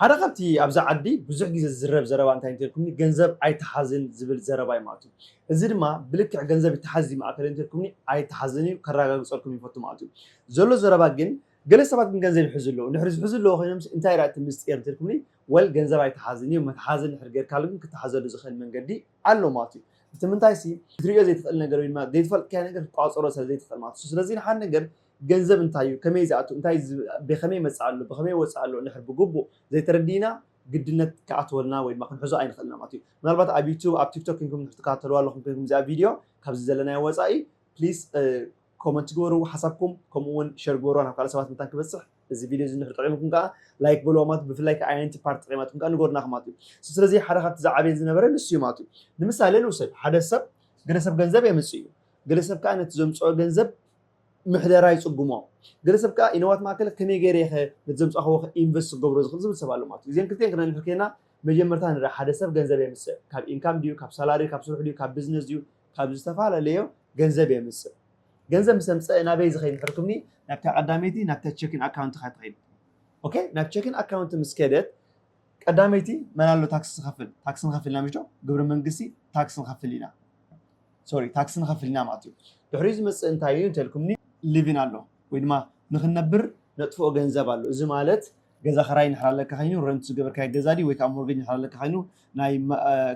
ሓደ ካብቲ ኣብዛ ዓዲ ብዙሕ ግዜ ዝዝረብ ዘረባ እንታይ እንተልኩምኒ ገንዘብ ኣይተሓዝን ዝብል ዘረባ እዩ ማለት እዩ። እዚ ድማ ብልክዕ ገንዘብ ይተሓዝ ድዩ ማእከለይ እንተልኩምኒ ኣይተሓዝን እዩ ከራጋግጸልኩም ይፈቱ ማለት እዩ። ዘሎ ዘረባ ግን ገለ ሰባት ግን ገንዘብ ይሕዙ ኣለዉ እንድሕሪ ዝሕዙ ኣለዉ ኮይኖምስ እንታይ ድኣ እቲ ምስጢር እንተልኩምኒ well ገንዘብ ኣይተሓዝን እዩ መትሓዚ እንድሕሪ ጌርካሉ ግን ክተሓዘሉ ዝኽእል መንገዲ ኣሎ ማለት እዩ። እቲ ምንታይሲ ክትርእዮ ዘይትኽእል ነገር ወይ ድማ ዘይትፈልጥካዮ ነገር ክትቆጻጸሮ ስለ ዘይትኽእል ማለት እዩ። ስለዚ ንሓደ ነገር ገንዘብ እንታይ እዩ፣ ከመይ ዝኣቱ፣ እንታይ ብኸመይ ይመጽኣሉ፣ ብኸመይ ይወጽኣሉ እንድሕር ብግቡእ ዘይተረዲእና ግድነት ክኣትወልና ወይ ድማ ክንሕዞ ኣይንኽእልና ማለት እዩ። ምናልባት ኣብ ዩቱብ ኣብ ቲክቶክ ኴንኩም እንድሕር ትከታተልዋ ኣለኹም ኴንኩም እዚኣ ቪድዮ ካብዚ ዘለናዮ ወጻኢ ፕሊስ ኮመንት ግበሩ ሓሳብኩም ከምኡ እውን ሸር ግበሩዋ ናብ ካልእ ሰባት መታን ክበጽሕ እዚ ቪድዮ እዚ እንድሕር ጠቂምኩም ከዓ ላይክ በልዋ ማለት ብፍላይ ከዓ ኣየነይቲ ፓርቲ ጠቂማትኩም ከዓ ንገሩና ማለት እዩ። ስለዚ ሓደ ካብቲ ዝዓበየን ዝነበረ ንሱ እዩ ማለት እዩ። ንምሳሌ ንውሰድ ሓደ ሰብ ገለ ሰብ ገንዘብ የምጽእ እዩ ገለ ሰብ ከዓ ነቲ ዘምጽኦ ገንዘብ ምሕደራ ይጽግሞ። ገለ ሰብ ከኣ ኢነዋት ማእከል ከመይ ገይረ'የ'ኸ ነቲ ዘምጻኽዎ'ኸ ኢንቨስት ክገብሮ ዝኽእል ዝብል ሰብ ኣሎ ማለት እዩ። እዚኤን ክልቲኤን ክነንሕር ኴንና መጀመርታ ንርኣ ሓደ ሰብ ገንዘብ የምጽእ ካብ ኢንካም ድዩ ካብ ሳላሪ ካብ ስርሑ ድዩ ካብ ብዝነስ ድዩ ካብ ዝተፋላለዮ ገንዘብ የምጽእ ገንዘብ ምስ ኣምጸእ ናበይ ዝኸይድ እንድሕር ክብልኒ ናብታ ቀዳመይቲ ናብታ ቸኪን ኣካውንትኻ ትኸይድ ኦኬ ናብ ቸኪን ኣካውንት ምስ ከደት ቀዳመይቲ መን ኣሎ ታክሲ ዝኸፍል? ታክሲ ንኸፍል ኢና ምሽዶ? ግብሪ መንግስቲ ታክሲ ንኸፍል ኢና ሶሪ ታክሲ ንኸፍል ኢና ማለት እዩ። ድሕሪኡ ዝመጽእ እንታይ እዩ እንተልኩምኒ ሊቪን ኣሎ ወይ ድማ ንኽንነብር ነጥፍኦ ገንዘብ ኣሎ። እዚ ማለት ገዛ ክራይ ንሕር ኣለካ ኮይኑ ረንት ዝገበርካዮ ገዛ ድዩ ወይ ከዓ ሞርጌጅ ንሕር ኣለካ ኮይኑ ናይ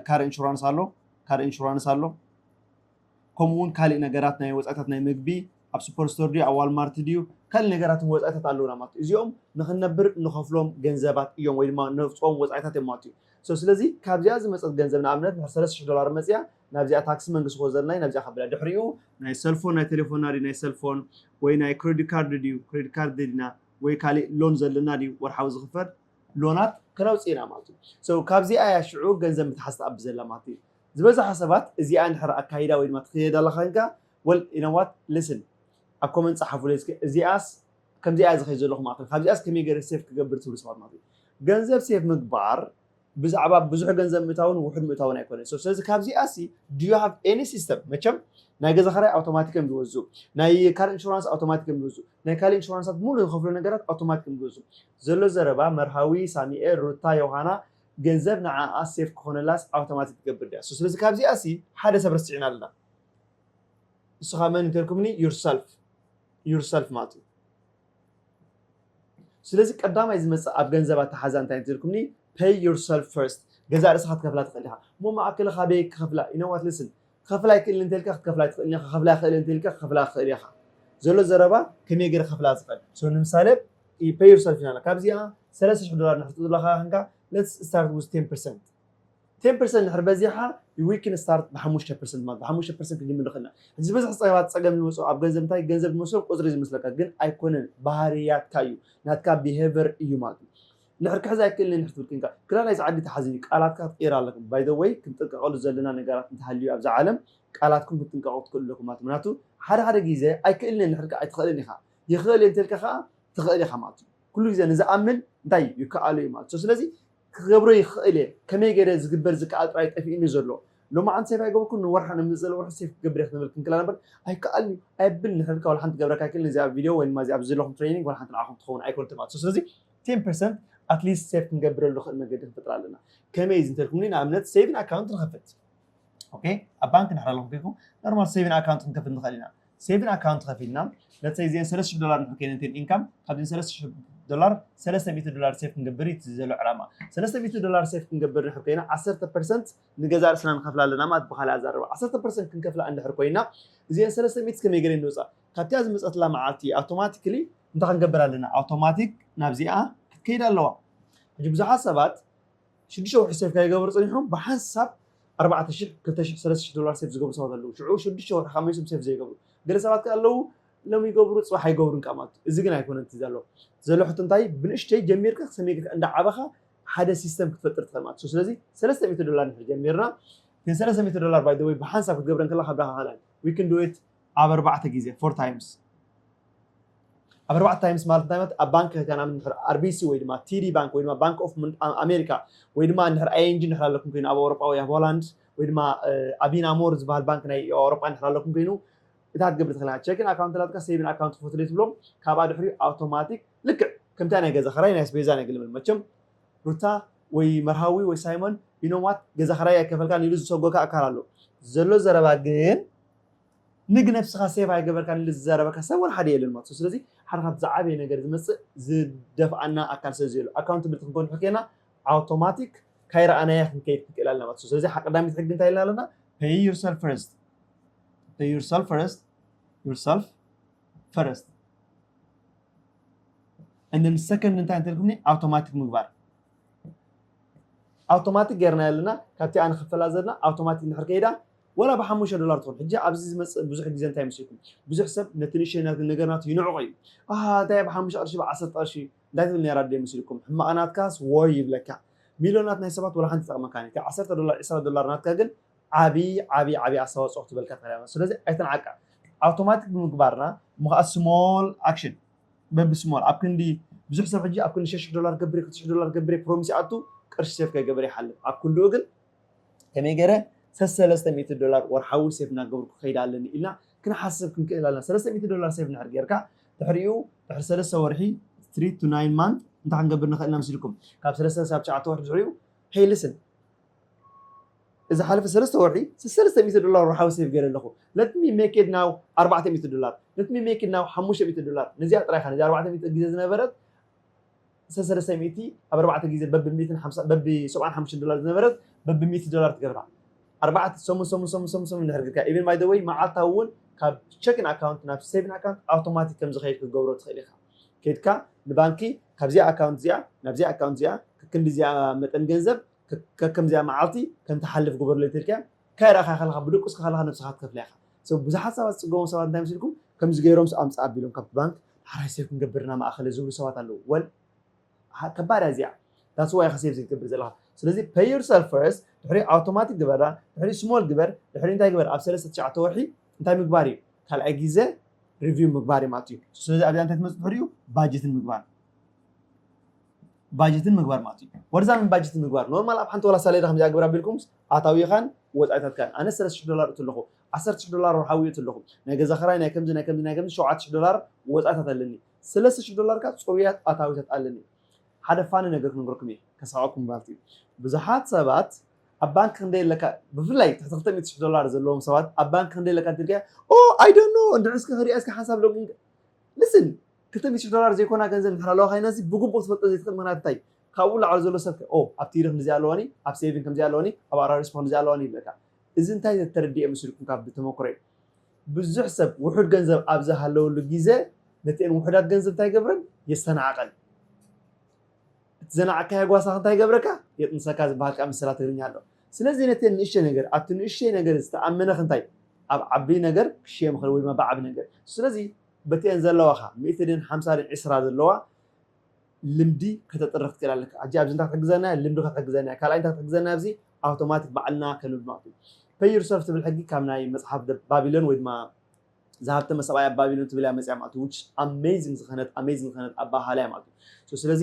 ካር ኢንሹራንስ ኣሎ ካር ኢንሹራንስ ኣሎ ከምኡ ውን ካልእ ነገራት ናይ ወጻኢታት ናይ ምግቢ ኣብ ሱፐር ስቶር ድዩ ኣብ ዋልማርት ድዩ ካልእ ነገራትን ወጻኢታት ኣለውና ማለት እዩ እዚኦም ንኽንነብር እንኸፍሎም ገንዘባት እዮም ወይ ድማ ነውጽኦም ወጻኢታት እዮም ማለት እዩ so ስለዚ ካብዚኣ ዝመጸት ገንዘብ ንኣብነት ድሕሪ ሰለስተ ሽሕ ዶላር መጺኣ ናብዚኣ ታክሲ መንግስቲ ክወስደልና እዩ ናብዚኣ ከብላ ድሕሪኡ ናይ ሰልፎን ናይ ቴሌፎንና ድዩ ናይ ሰልፎን ወይ ናይ ክሬዲት ካርድ ድዩ ክሬዲት ካርድ ደሊና ወይ ካልእ ሎን ዘለና ድዩ ወርሓዊ ዝኽፈል ሎናት ከነውጽእ ኢና ማለት እዩ so ካብዚኣ እያ ሽዑ ገንዘብ ምትሓዝ ትኣቢ ዘላ ማለት እዩ ዝበዛሓ ሰባት እዚኣ እንድሕር ኣካይዳ ወይ ድማ ትክየድ ኣላ ከንካ well you know what listen ኣብ ኮመንት ጸሓፉለይ እስከ እዚኣስ ከምዚኣ እያ ዝከይድ ዘለኹ ማለት እዩ ካብዚኣስ ከመይ ገይረ ሴፍ ክገብር ትብሉ ሰባት ማለት እዩ ገንዘብ ሴፍ ምግባር ብዛዕባ ብዙሕ ገንዘብ ምእታውን ውሑድ ምእታውን ኣይኮነን ስለዚ ካብዚኣ ሲ ዱ ዩ ሃቭ ኤኒ ሲስተም መቸም ናይ ገዛ ኸራይ ኣውቶማቲክ እዮም ዝወዙ ናይ ካል ኢንሹራንስ ኣውቶማቲክ እዮም ዝወዙ ናይ ካል ኢንሹራንሳት ሙሉ ዝኸፍሉ ነገራት ኣውቶማቲክ እዮም ዝወዙ ዘሎ ዘረባ መርሃዊ ሳሚኤል ሩታ ዮሃና ገንዘብ ንዓኣ ሴፍ ክኾነላስ ኣውተማቲክ ትገብር ድያ ሶ ስለዚ ካብዚኣ ሲ ሓደ ሰብ ረሲዕና ኣለና ንስኻ መን እንተልኩምኒ ዩር ሰልፍ ዩር ሰልፍ ማለት እዩ ስለዚ ቀዳማይ ዝመፅእ ኣብ ገንዘብ ኣተሓዛ እንታይ እንተልኩምኒ ፐይ ዩር ሰልፍ ፈርስት ገዛእ ርእስኻ ትከፍላ ትኽእል ኢኻ እሞ ማእከለ ካበይ ክኸፍላ ኢነዋት ልስን ክኸፍል ኣይክእልን እንተልካ ክትከፍላ ኣይትኽእልን ኢኻ ክኸፍል ኣይኽእልን እንተልካ ክኸፍላ ክኽእል ኢኻ ዘሎ ዘረባ ከመይ ገይረ ክኸፍላ ዝኽእል so ንምሳሌ you pay yourself ይላል ካብዚኣ ሰለስተ ሽሕ ዶላር ንሕር ዘለኻ ክንካ let's start with 10% 10% ንድሕር በዚሓ we can start ብሓሙሽተ ፐርሰንት ማለት ብሓሙሽተ ፐርሰንት ክንጅምር ንኽእል ኢና ሕጂ ዝበዝሕ ፀገባት ፀገም ዝመፅኦ ኣብ ገንዘብ እንታይ ገንዘብ ዝመስሎም ቁፅሪ ዝመስለካ ግን ኣይኮነን ባህርያትካ እዩ ናትካ ብሄቨር እዩ ማለት እዩ ንሕር ክሕዝ ኣይክእልን ክትብል ኮንካ ግዳ ናይዚ ዓዲ ተሓዝን እዩ ቃላትካ ክትቅይር ኣለኩም ባይ ዘ ወይ ክንጥንቀቀሉ ዘለና ነጋራት እንተሃልዩ ኣብዛ ዓለም ቃላትኩም ክትጥንቀቁ ትክእሉ ኣለኩም ማለት ምክንያቱ ሓደ ሓደ ግዜ ኣይክእልን እየ ንሕር ኣይትክእልን ኢካ ይክእል እየ እንተልካ ከኣ ትክእል ኢካ ማለት እዩ ኩሉ ግዜ ንዝኣምን እንታይ እዩ ይከኣሎ እዩ ማለት ስለዚ ክገብሮ ይክእል እየ ከመይ ገይረ ዝግበር ዝከኣል ጥራይ ጠፊእኒ ዘሎ ሎማዓንቲ ሴፍ ኣይገበርኩን ንወርሓ ንመፅእ ወርሒ ሴፍ ክገብር ክትብል ክንክላ ነበር ኣይከኣልን ኣየብል ንሕልካ ወላ ሓንቲ ገብረካ ኣይክእልን እዚኣ ቪድዮ ወይ ድማ እዚ ኣብዚ ዘለኹም ትሬኒንግ ወላ ሓንቲ ንዓኹም ትኸውን ኣይኮነትን ማለት ስለዚ ቴን ፐርሰንት ኣትሊስት ሴቭ ክንገብረሉ ንኽእል መገዲ ክንፈጥር ኣለና ከመይ እዚ እንተልኩምኒ ንኣብነት ሴቪን ኣካውንት ንኸፍት ኦኬ ኣብ ባንክ ንሕና ኣለኹም ኮይንኩም ኖርማል ሴቪን ኣካውንት ክንከፍት ንኽእል ኢና ሴቪን ኣካውንት ከፊልና ለትሰይ እዚአን ሰለስተ ሽሕ ዶላር ንሕር ኮይነን እተን ኢንካም ካብዚን ሰለስተ ሽሕ ዶላር ሰለስተ ሚእቲ ዶላር ሴፍ ክንገብር እዩ ዘሎ ዕላማ ሰለስተ ሚእቲ ዶላር ሴፍ ክንገብር ንሕር ኮይና ዓሰርተ ፐርሰንት ንገዛ ርእስና ንኸፍላ ኣለና ማለት ብካልእ ኣዛረባ ዓሰርተ ፐርሰንት ክንከፍላ እንድሕር ኮይና እዚአን ሰለስተ ሚእቲ ከመይ ገለ ንውፃእ ካብቲኣ ዝመጸትላ መዓልቲ ኣውቶማቲክሊ እንታይ ክንገብር ኣለና? ኣውቶማቲክ ናብዚኣ ክትከይድ ኣለዋ። ሕጂ ብዙሓት ሰባት ሽዱሽተ ወርሒ ሴፍ ከይገበሩ ጸኒሖም ብሓንሳብ ኣርባዕተ ሽሕ፣ ክልተ ሽሕ፣ ሰለስተ ሽሕ ዶላር ሴፍ ዝገብሩ ሰባት ኣለዉ። ሽዑ ሽዱሽተ ወርሒ ካብ መሊሶም ሴፍ ዘይገብሩ ገለ ሰባት ከኣ ኣለዉ። ሎሚ ይገብሩ ጽባሕ ኣይገብሩን ከኣ ማለት እዩ። እዚ ግን ኣይኮነን እቲ ዘሎ ዘሎ ሕቶ እንታይ እዩ? ብንእሽተይ ጀሚርካ ክሰመይ ጌርካ እንዳዓበኻ ሓደ ሲስተም ክትፈጥር ትኽእል ማለት እዩ። ስለዚ ሰለስተ ሚእቲ ዶላር እንድሕር ጀሚርና እተን ሰለስተ ሚእቲ ዶላር ባይ ዘ ወይ ብሓንሳብ ክትገብረን ከለኻ ብራኸ ካልኣን we can do it ኣብ ኣርባዕተ ግዜ፣ four times፣ ኣብ ኣርባዕተ ታይምስ ማለት እንታይ ማለት ኣብ ባንክ ህታና እንድሕር ኣርቢሲ ወይ ድማ ቲዲ ባንክ ወይ ድማ ባንክ ኦፍ ኣሜሪካ ወይ ድማ እንድሕር ኣይኤንጂ እንድሕር ኣለኩም ኮይኑ ኣብ ኣውሮጳ ወይ ኣብ ሆላንድ ወይ ድማ ኣቢና ሞር ዝበሃል ባንክ ናይ ኣውሮጳ እንድሕር ኣለኩም ኮይኑ እታ ትገብር ትኽእላ ቸክን ኣካውንት ላትካ ሴቪን ኣካውንት ፎትሌ ትብሎም ካብኣ ድሕሪኡ ኣውቶማቲክ ልክዕ ከምታ ናይ ገዛ ኸራይ ናይ ስፔዛ ናይ ግልምን መቸም ሩታ ወይ መርሃዊ ወይ ሳይሞን ኢኖም ዋት ገዛ ኸራይ ኣይከፈልካን ኢሉ ዝሰጎካ ኣካል ኣሎ ዘሎ ዘረባ ግን ንግ ነብስካ ሴቭ ኣይገበርካን ኢሉ ዝዛረበካ ሰብ ወላ ሓደ የለን ማለት እዩ ስለዚ ሓደ ካብቲ ዝዓበየ ነገር ዝመጽእ ዝደፍኣና ኣካል ስለዚ ዘሎ ኣካውንትብልቲ ክንኮን ሕኬና ኣውቶማቲክ ካይረኣናያ ክንከይድ ክንክእል ኣለና ማለት እዩ ስለዚ ሓቀዳሚት ሕጊ እንታይ ኢልና ኣለና pay yourself first pay yourself first yourself first and then second እንታይ እንተልኩምኒ ኣውቶማቲክ ምግባር ኣውቶማቲክ ገርና ኣለና ካብቲ ኣነ ክፈላ ዘለና ኣውቶማቲክ እንድሕር ከይዳ ዋላ ብሓሙሽተ ዶላር ትኹን ሕጂ ኣብዚ ዝመጽእ ብዙሕ ግዜ እንታይ መሲልኩም ብዙሕ ሰብ ነቲ ንእሽተይ ናቱ ነገር ናቱ ይንዕቆ እዩ ኣሃ እንታይ እየ ብሓሙሽተ ቅርሺ ብዓሰርተ ቅርሺ እንታይ ትብል ነይራ ኣደይ መሲልኩም ሕማቕ ናትካስ ዎይ ይብለካ ሚልዮናት ናይ ሰባት ዋላ ሓንቲ ትጠቕመካን እያ እታ ዓሰርተ ዶላር ዕስራ ዶላር ናትካ ግን ዓቢ ዓቢ ዓቢ ኣስተዋጽኦ ክትበልካ ትኽእል እያ ስለዚ ኣይትንዓቃ ኣውቶማቲክ ብምግባርና እሞ ከዓ ስሞል ኣክሽን በቢ ስሞል ኣብ ክንዲ ብዙሕ ሰብ ሕጂ ኣብ ክንዲ ሸሽሕ ዶላር ገብሬ ክትሽሕ ዶላር ገብሬ ፕሮሚስ ይኣቱ ቅርሺ ሴፍ ከይገበረ ይሓልፍ ኣብ ክንድኡ ግን ከመይ ገይረ ሰሰለስተ ሚእቲ ዶላር ወርሓዊ ሴቭ እናገበርኩ ክኸይድ ኣለኒ ኢልና ክንሓስብ ክንክእል ኣለና። ሰለስተ ሚእቲ ዶላር ሴቭ እንድሕር ገይርካ ድሕሪኡ ድሕሪ ሰለስተ ወርሒ፣ ትሪ ቱ ናይን ማንት፣ እንታይ ክንገብር ንኽእል ኢና መሲልኩም? ካብ ሰለስተ ክሳብ ትሽዓተ ወርሒ ድሕሪኡ ሄይ ልስን እዚ ሓለፈ ሰለስተ ወርሒ ሰለስተ ሚእቲ ዶላር ወርሓዊ ሴቭ ገይረ ኣለኹ ለት ሚ ሜክ ኢት ናው ኣርባዕተ ሚእቲ ዶላር ለት ሚ ሜክ ኢት ናው ሓሙሽተ ሚእቲ ዶላር ነዚኣ ጥራይ ኢኻ ነዚ ኣርባዕተ ሚእቲ ግዜ ዝነበረት ሰሰለሰ ሚእቲ ኣብ ኣርባዕተ ግዜ በቢ ሚእትን ሓምሳ በቢ ሰብዓን ሓሙሽተን ዶላር ዝነበረት በቢ ሚእቲ ዶላር ትገብራ ኣርባዕተ ሰሙን ሰሙን ሰሙን ሰሙን ሰሙን እንድሕር ጌርካያ ኢቭን ባይ ዘ ወይ መዓልታዊ እውን ካብ ቸኪን ኣካውንት ናብ ሴቪን ኣካውንት ኣውቶማቲክ ከም ዝኸይድ ክትገብሮ ትኽእል ኢኻ ከድካ ንባንኪ ካብዚኣ ኣካውንት እዚኣ ናብዚኣ ኣካውንት እዚኣ ከክንዲ እዚኣ መጠን ገንዘብ ከከምዚኣ መዓልቲ ከም ትሓልፍ ግበርለይ ተልካያ ካይ ረኣኻ ከለኻ ብደቁስካ ከለኻ ነብስኻ ትከፍላ ኢኻ ሰብ ብዙሓት ሰባት ዝጽገሙ ሰባት እንታይ መሲልኩም ከምዚ ገይሮምስ ኣምጽእ ኣቢሎም ካብቲ ባንክ ሓራይ ሴቭ ክንገብር ኢና ማእከለ ዝብሉ ሰባት ኣለዉ ወል ኣሃ ከባድ እያ እዚኣ ዳትስ ዋይ ኢኻ ሴቭ ዘይትገብር ዘለኻ ስለዚ pay yourself first ድሕሪ ኣውቶማቲክ ግበራ ድሕሪ ስሞል ግበር ድሕሪ እንታይ ግበር ኣብ ሰለስተ ትሽዓተ ወርሒ እንታይ ምግባር እዩ ካልኣይ ግዜ ሪቪው ምግባር እዩ ማለት እዩ ስለዚ ኣብዚኣ እንታይ ትመጽእ ድሕሪኡ ባጀትን ምግባር ባጀትን ምግባር ማለት እዩ ወርዛንን ባጀትን ምግባር ኖርማል ኣብ ሓንቲ ዋላ ሳሌዳ ከምዚኣ ግብር ኣቢልኩምስ ኣታዊኻን ወጻኢታትካን ኣነስ ሰለስተ ሽሕ ዶላር እቱ ኣለኹ ዓሰርተ ሽሕ ዶላር ወርሓዊ እቱ ኣለኹ ናይ ገዛ ክራይ ናይ ከምዚ ናይ ከምዚ ናይ ከምዚ ሸውዓተ ሽሕ ዶላር ወጻኢታት ኣለኒ ሰለስተ ሽሕ ዶላር ከኣ ጽሩያት ኣታዊታት ኣለኒ ሓደ ፋኒ ነገር ክንገርኩም እየ ከስሕቐኩም ማለት እዩ ብዙሓት ሰባት ኣብ ባንክ ክንደይ ኣለካ ብፍላይ ትሕቲ ክልተ ሚእቲ ሽሕ ዶላር ዘለዎም ሰባት ኣብ ባንክ ክንደይ ኣለካ እንተልካ ኦ ኣይ ዶንት ኖ እንድሕር እስኪ ክሪኣ እስኪ ሓንሳብ ሎጊን ልስን ክልተ ሚእቲ ሽሕ ዶላር ዘይኮና ገንዘብ እንድሕር ኣለዋካ ይነዚ ብግቡእ ክትፈልጦ ዘይትክእል ምክንያት እንታይ እዩ ካብኡ ንላዕሊ ዘሎ ሰብ ከ ኦው ኣብ ትይሪ ክንድዚ ኣለዋኒ ኣብ ሴቪንግ ከምዚ ኣለዋኒ ኣብ ኣራሪስፖ ክንድዚ ኣለዋኒ ይብለካ እዚ እንታይ ተተረዲኤ መሲሉኩም ካብ ብተመኩረይ ብዙሕ ሰብ ውሑድ ገንዘብ ኣብ ዝሃለወሉ ግዘ ነቲኤን ውሑዳት ገንዘብ እንታይ ይገብረን የስተናዕቀን እቲ ዘናዕካዮ ጓሳክ እንታይ ይገብረካ የጥንሰካ ዝበሃል ከዓ ምሰላ ትግርኛ ኣሎ ስለዚ ነቲኤን ንእሽተይ ነገር ኣብቲ ንእሽተይ ነገር ዝተኣመነክ እንታይ ኣብ ዓብይ ነገር ክሽየም ይክእል ወይ ድማ ብዓብይ ነገር ስለዚ በቲኤን ዘለዋኻ ሚእቲ ድየን ሓምሳ ድየን ዕስራ ዘለዋ ልምዲ ከተጥርኽ ትክእል ኣለካ። ሕጂ ኣብዚ እንታይ ክትሕግዘና እያ ልምዲ ክትሕግዘና እያ ካልኣይ እንታይ ክትሕግዘና እያ ኣብዚ ኣውቶማቲክ ባዕልና ከልምድ ማለት እዩ። Pay yourself ትብል ሕጊ ካብ ናይ መጽሓፍ the Babylon ወይ ድማ ዝሃብተመ ሰብኣይ ኣብ ባቢሎን ትብል እያ መጽያ ማለት እዩ which amazing ዝኸነት amazing ዝኸነት ኣበሃህላ እያ ማለት እዩ። ስለዚ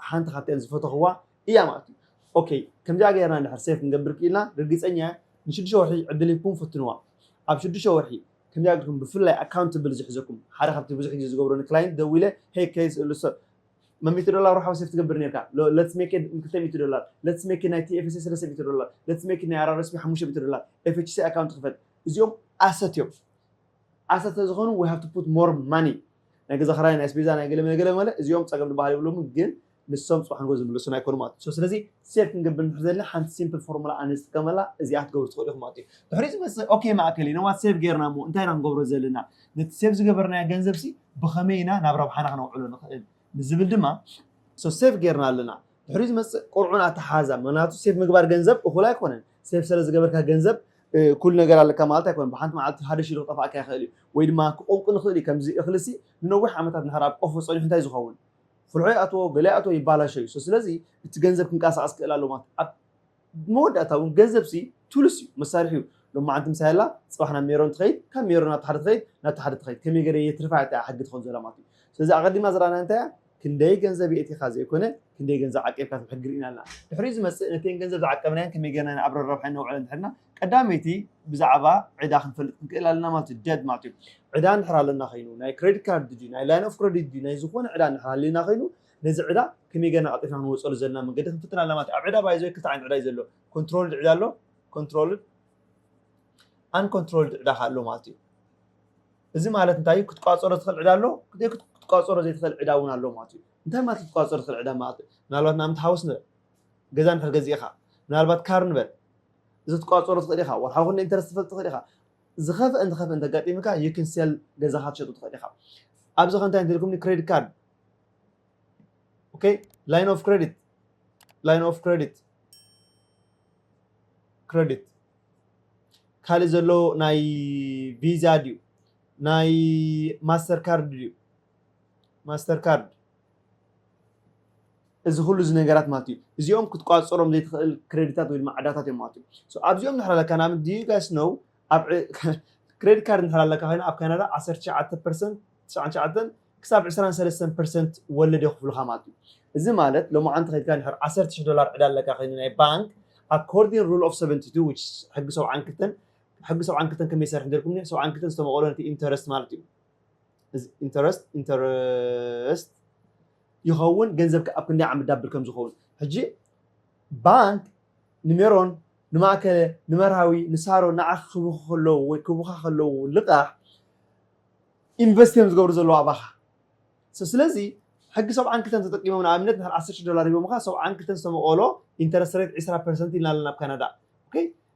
ሓንቲ ካብተን ዝፈተኽዋ እያ ማለት እዩ። ኦኬ ከምዚኣ ገይርና እንድሕር ሴፍ ክንገብር ክኢልና ርግጸኛ እየ ንሽዱሽተ ወርሒ ዕድል ሂብኩም ፍትንዋ ኣብ ሽዱሽተ ወርሒ ክንደይ ኣጆኩም ብፍላይ ኣካውንትብል ዝሕዘኩም ሓደ ካብቲ ብዙሕ ግዜ ዝገብሮ ንክላይንት ደዊለ ሄይ ከይስ እሉ ሰብ መን ሚእቲ ዶላር ወርሓዊ ሴፍ ትገብር ኔርካ ሎ ለትስ ሜክ ኢት ክልተ ሚእቲ ዶላር ለትስ ሜክ ኢት ናይ ቲኤፍሲ ሰለስተ ሚእቲ ዶላር ለትስ ሜክ ኢት ናይ ኣራርስፒ ሓሙሽተ ሚእቲ ዶላር ኤፍችሲ ኣካውንት ክፈት እዚኦም ኣሰት እዮም ኣሰት ስለዝኾኑ ዊ ሃቭ ቱ ፑት ሞር ማኒ ናይ ገዛ ክራይ ናይ ኣስቤዛ ናይ ገለ መለ ገለ መለ እዚኦም ጸገም ድበሃል የብሎምን ግን ንሶም ጽባሕ ንግሆ ዝምለሱና ኣይኮኑን ማለት እዩ። ሶ ስለዚ ሴቭ ክንገብር እንድሕር ዘለና ሓንቲ ሲምፕል ፎርሙላ ኣነ ዝጥቀመላ እዚኣ ክትገብሩ ትኽእሉ ኢኹም ማለት እዩ። ድሕሪኡ ዝመጽእ ኦኬ ማእከል እዩ። ነዋት ሴቭ ጌርና እሞ እንታይ ኢና ክንገብሮ ዘለና? ነቲ ሴቭ ዝገበርናዮ ገንዘብሲ ብኸመይ ኢና ናብ ረብሓና ክነውዕሎ ንኽእል? ንዝብል ድማ ሶ ሴቭ ጌርና ኣለና። ድሕሪኡ ዝመጽእ ቅርዑን ኣተሓሕዛን ምኽንያቱ ሴቭ ምግባር ገንዘብ እኹል ኣይኮነን። ሴቭ ሰለ ዝገበርካ ገንዘብ ኩሉ ነገር ኣለካ ማለት ኣይኮነን። ብሓንቲ መዓልቲ ሓደ ሽሕ ክጠፍኣካ ይኽእል እዩ። ወይ ድማ ክቆንቁን ይኽእል እዩ። ከምዚ እኽሊሲ ንነዊሕ ዓመታት እንድሕር ኣብ ቆፎ ጸኒሑ እንታይ እዩ ዝኸውን? ፍርሖ ይኣትዎ ገለ ይኣትዎ ይባላሾ እዩ ሰስለዚ እቲ ገንዘብ ክንቃሳቀስ ክእል ኣሎ ማለት ኣብ መወዳእታ እውን ገንዘብ ሲ ቱልስ እዩ መሳርሒ እዩ ሎማዓንቲ ምሳይ ኣላ ፅባሕ ናብ ሜሮን ትኸይድ ካብ ሜሮን ናብቲ ሓደ ትኸይድ ናብቲ ሓደ ትኸይድ ከመይ ገረ የትርፋ እያ እቲኣ ሕጊ ትኸውን ዘላ ማለት እዩ ስለዚ ኣቀዲምና ዝረኣናያ እንታይ እያ ክንደይ ገንዘብ የእቲኻ ዘይኮነ ክንደይ ገንዘብ ዓቂብካ ትብ ሕጊ ርኢና ኣለና ድሕሪኡ ዝመፅእ ነተን ገንዘብ ዝዓቀብናየን ከመይ ገርና ኢና ኣብ ረረብሓ እነውዕለን ድሕርና ቀዳመይቲ ብዛዕባ ዕዳ ክንፈልጥ ክንክእል ኣለና ማለት እዩ ደድ ማለት እዩ ዕዳ እንድሕር ኣለና ኮይኑ ናይ ክሬዲት ካርድ ድዩ ናይ ላይን ኦፍ ክሬዲት ድዩ ናይ ዝኾነ ዕዳ እንድሕር ኣለና ኮይኑ ነዚ ዕዳ ከመይ ገና ቀልጢፍና ክንወፀሉ ዘለና መንገዲ ክንፍትን ኣለና ማለት እዩ ኣብ ዕዳ ባይዘ ክልተ ዓይነት ዕዳ እዩ ዘሎ ኮንትሮልድ ዕዳ ኣሎ ኮንትሮልድ ኣንኮንትሮልድ ዕዳ ኣሎ ማለት እዩ እዚ ማለት እንታይ እዩ ክትቋፀሮ ዝኽእል ዕዳ ኣሎ ክትቋፀሮ ዘይትኽእል ዕዳ እውን ኣሎ ማለት እዩ እንታይ ማለት ክትቋፀሮ ዝኽእል ዕዳ ማለት እዩ ምናልባት ንኣብነት ሃውስ ንበል ገዛ እንድሕር ገዚእኻ ምናልባት ካር ንበል እዚ ክትቋጸሮ ትኽእል ኢኻ፣ ወርሓዊ ክንደይ ኢንተረስት ትፈልጥ ትኽእል ኢኻ፣ ዝኸፍእ እንተ ኸፍእ እንተ ኣጋጢምካ you can sell ገዛኻ ትሸጦ ትኽእል ኢኻ። ኣብዚ ከ እንታይ እንተልኩምኒ ክሬዲት ካርድ ኦኬ ላይን ኦፍ ክሬዲት ላይን ኦፍ ክሬዲት ክሬዲት ካልእ ዘሎ ናይ ቪዛ ድዩ ናይ ማስተር ካርድ ድዩ ማስተር ካርድ እዚ ኩሉ እዚ ነገራት ማለት እዩ እዚኦም ክትቋጽሮም ዘይትኽእል ክረዲታት ወይ ድማ ዕዳታት እዮም ማለት እዩ። ሶ ኣብዚኦም እንድሕር ኣለካ ንኣብነት do you guys know ኣብ ክረዲት ካርድ እንድሕር ኣለካ ኮይና ኣብ ካናዳ ዓሰርተ ትሽዓተ ፐርሰንት ትስዓን ትሽዓተን ክሳብ ዕስራን ሰለስተን ፐርሰንት ወለድ የኽፍሉኻ ማለት እዩ። እዚ ማለት ሎምዓንቲ ከይድካ እንድሕር ዓሰርተ ሽሕ ዶላር ዕዳ ኣለካ ኮይኑ ናይ ባንክ ኣኮርዲን ሩል ኦፍ ሰቨንቲ ቱ which is ሕጊ ሰብዓን ክልተን ሕጊ ሰብዓን ክልተን ከመይ ይሰርሕ እንተልኩምኒ ሰብዓን ክልተን ዝተመቐሎ ነቲ ኢንተረስት ማለት እዩ። ኢንተረስት ኢንተረስት ይኸውን ገንዘብካ ኣብ ክንደይ ዓመት ዳብል ከም ዝኸውን ሕጂ ባንክ ንሜሮን ንማእከለ ንመርሃዊ ንሳሮ ንዓኺ ክብኹ ከለዉ ወይ ክብኻ ከለዉ ልቓሕ ኢንቨስት እዮም ዝገብሩ ዘለዉ ኣባኻ ስለዚ ሕጊ ሰብዓን ክልተን ተጠቂሞም ንኣብነት ንድሕር ዓሰርተ ሽዱሽተ ዶላር ሂቦምኻ ሰብዓን ክልተን ዝተመቐሎ ኢንተረስት ሬት ዕስራ ፐርሰንት ኢልና ኣለና ኣብ ካናዳ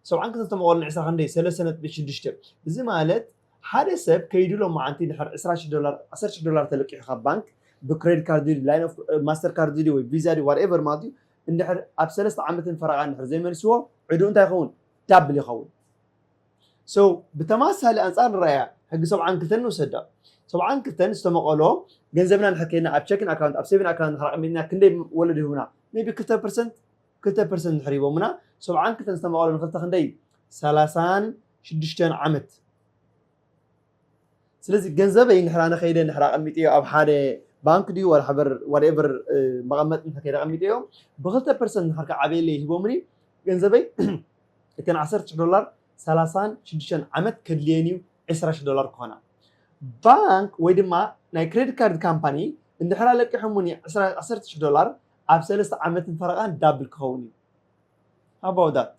ሰብዓን ክልተን ዝተመቐሎ ንዕስራ ክንደይ ሰለስተ ነጥቢ ሽዱሽተ እዚ ማለት ሓደ ሰብ ከይዱ ሎማዓንቲ ድሕር ዕስራ ሽሕ ዶላር ዓሰርተ ሽሕ ዶላር ተለቂሑ ካብ ባንክ ብክሬዲት ካርድ ድዩ ላይን ኦፍ ማስተር ካርድ ድዩ ወይ ቪዛ ድዩ ዋትኤቨር ማለት እዩ እንድሕር ኣብ ሰለስተ ዓመትን ፈረቓን ድሕር ዘይመልስዎ ዕድኡ እንታይ ይኸውን ዳብል ይኸውን so ብተማሳሊ ኣንጻር ንረኣያ ሕጊ ሰብዓን ክልተን ንውሰዳ ሰብዓን ክልተን ዝተመቐሎ ገንዘብና ንድሕር ከይድና ኣብ ቸኪን ኣካውንት ኣብ ሴቪን ኣካውንት ንድሕር ኣቐሚጥና ክንደይ ወለዶ ይህቡና ሜቢ ክልተ ፐርሰንት ክልተ ፐርሰንት ድሕር ሂቦምና ሰብዓን ክልተን ዝተመቐሎ ንክልተ ክንደይ እዩ ሰላሳን ሽዱሽተን ዓመት ስለዚ ገንዘበይ ንሕራ ነኸይደ ንሕራ ኣቐሚጠዮ ኣብ ሓደ ባንክ ድዩ ወላሓበር ዋትኤቨር መቐመጢ እንተ ከይደ ኣቐሚጠዮ ብክልተ ፐርሰንት ንሕር ክዓበየለይ ሂቦምኒ ገንዘበይ እተን ዓሰርተ ሽሕ ዶላር ሰላሳን ሽዱሽተን ዓመት ከድልየን እዩ ዕስራ ሽሕ ዶላር ክኾና ባንክ ወይ ድማ ናይ ክሬዲት ካርድ ካምፓኒ እንድሕር ኣለቂሖሙኒ ዓሰርተ ሽሕ ዶላር ኣብ ሰለስተ ዓመትን ፈረቓን ዳብል ክኸውን እዩ ሃባውዳት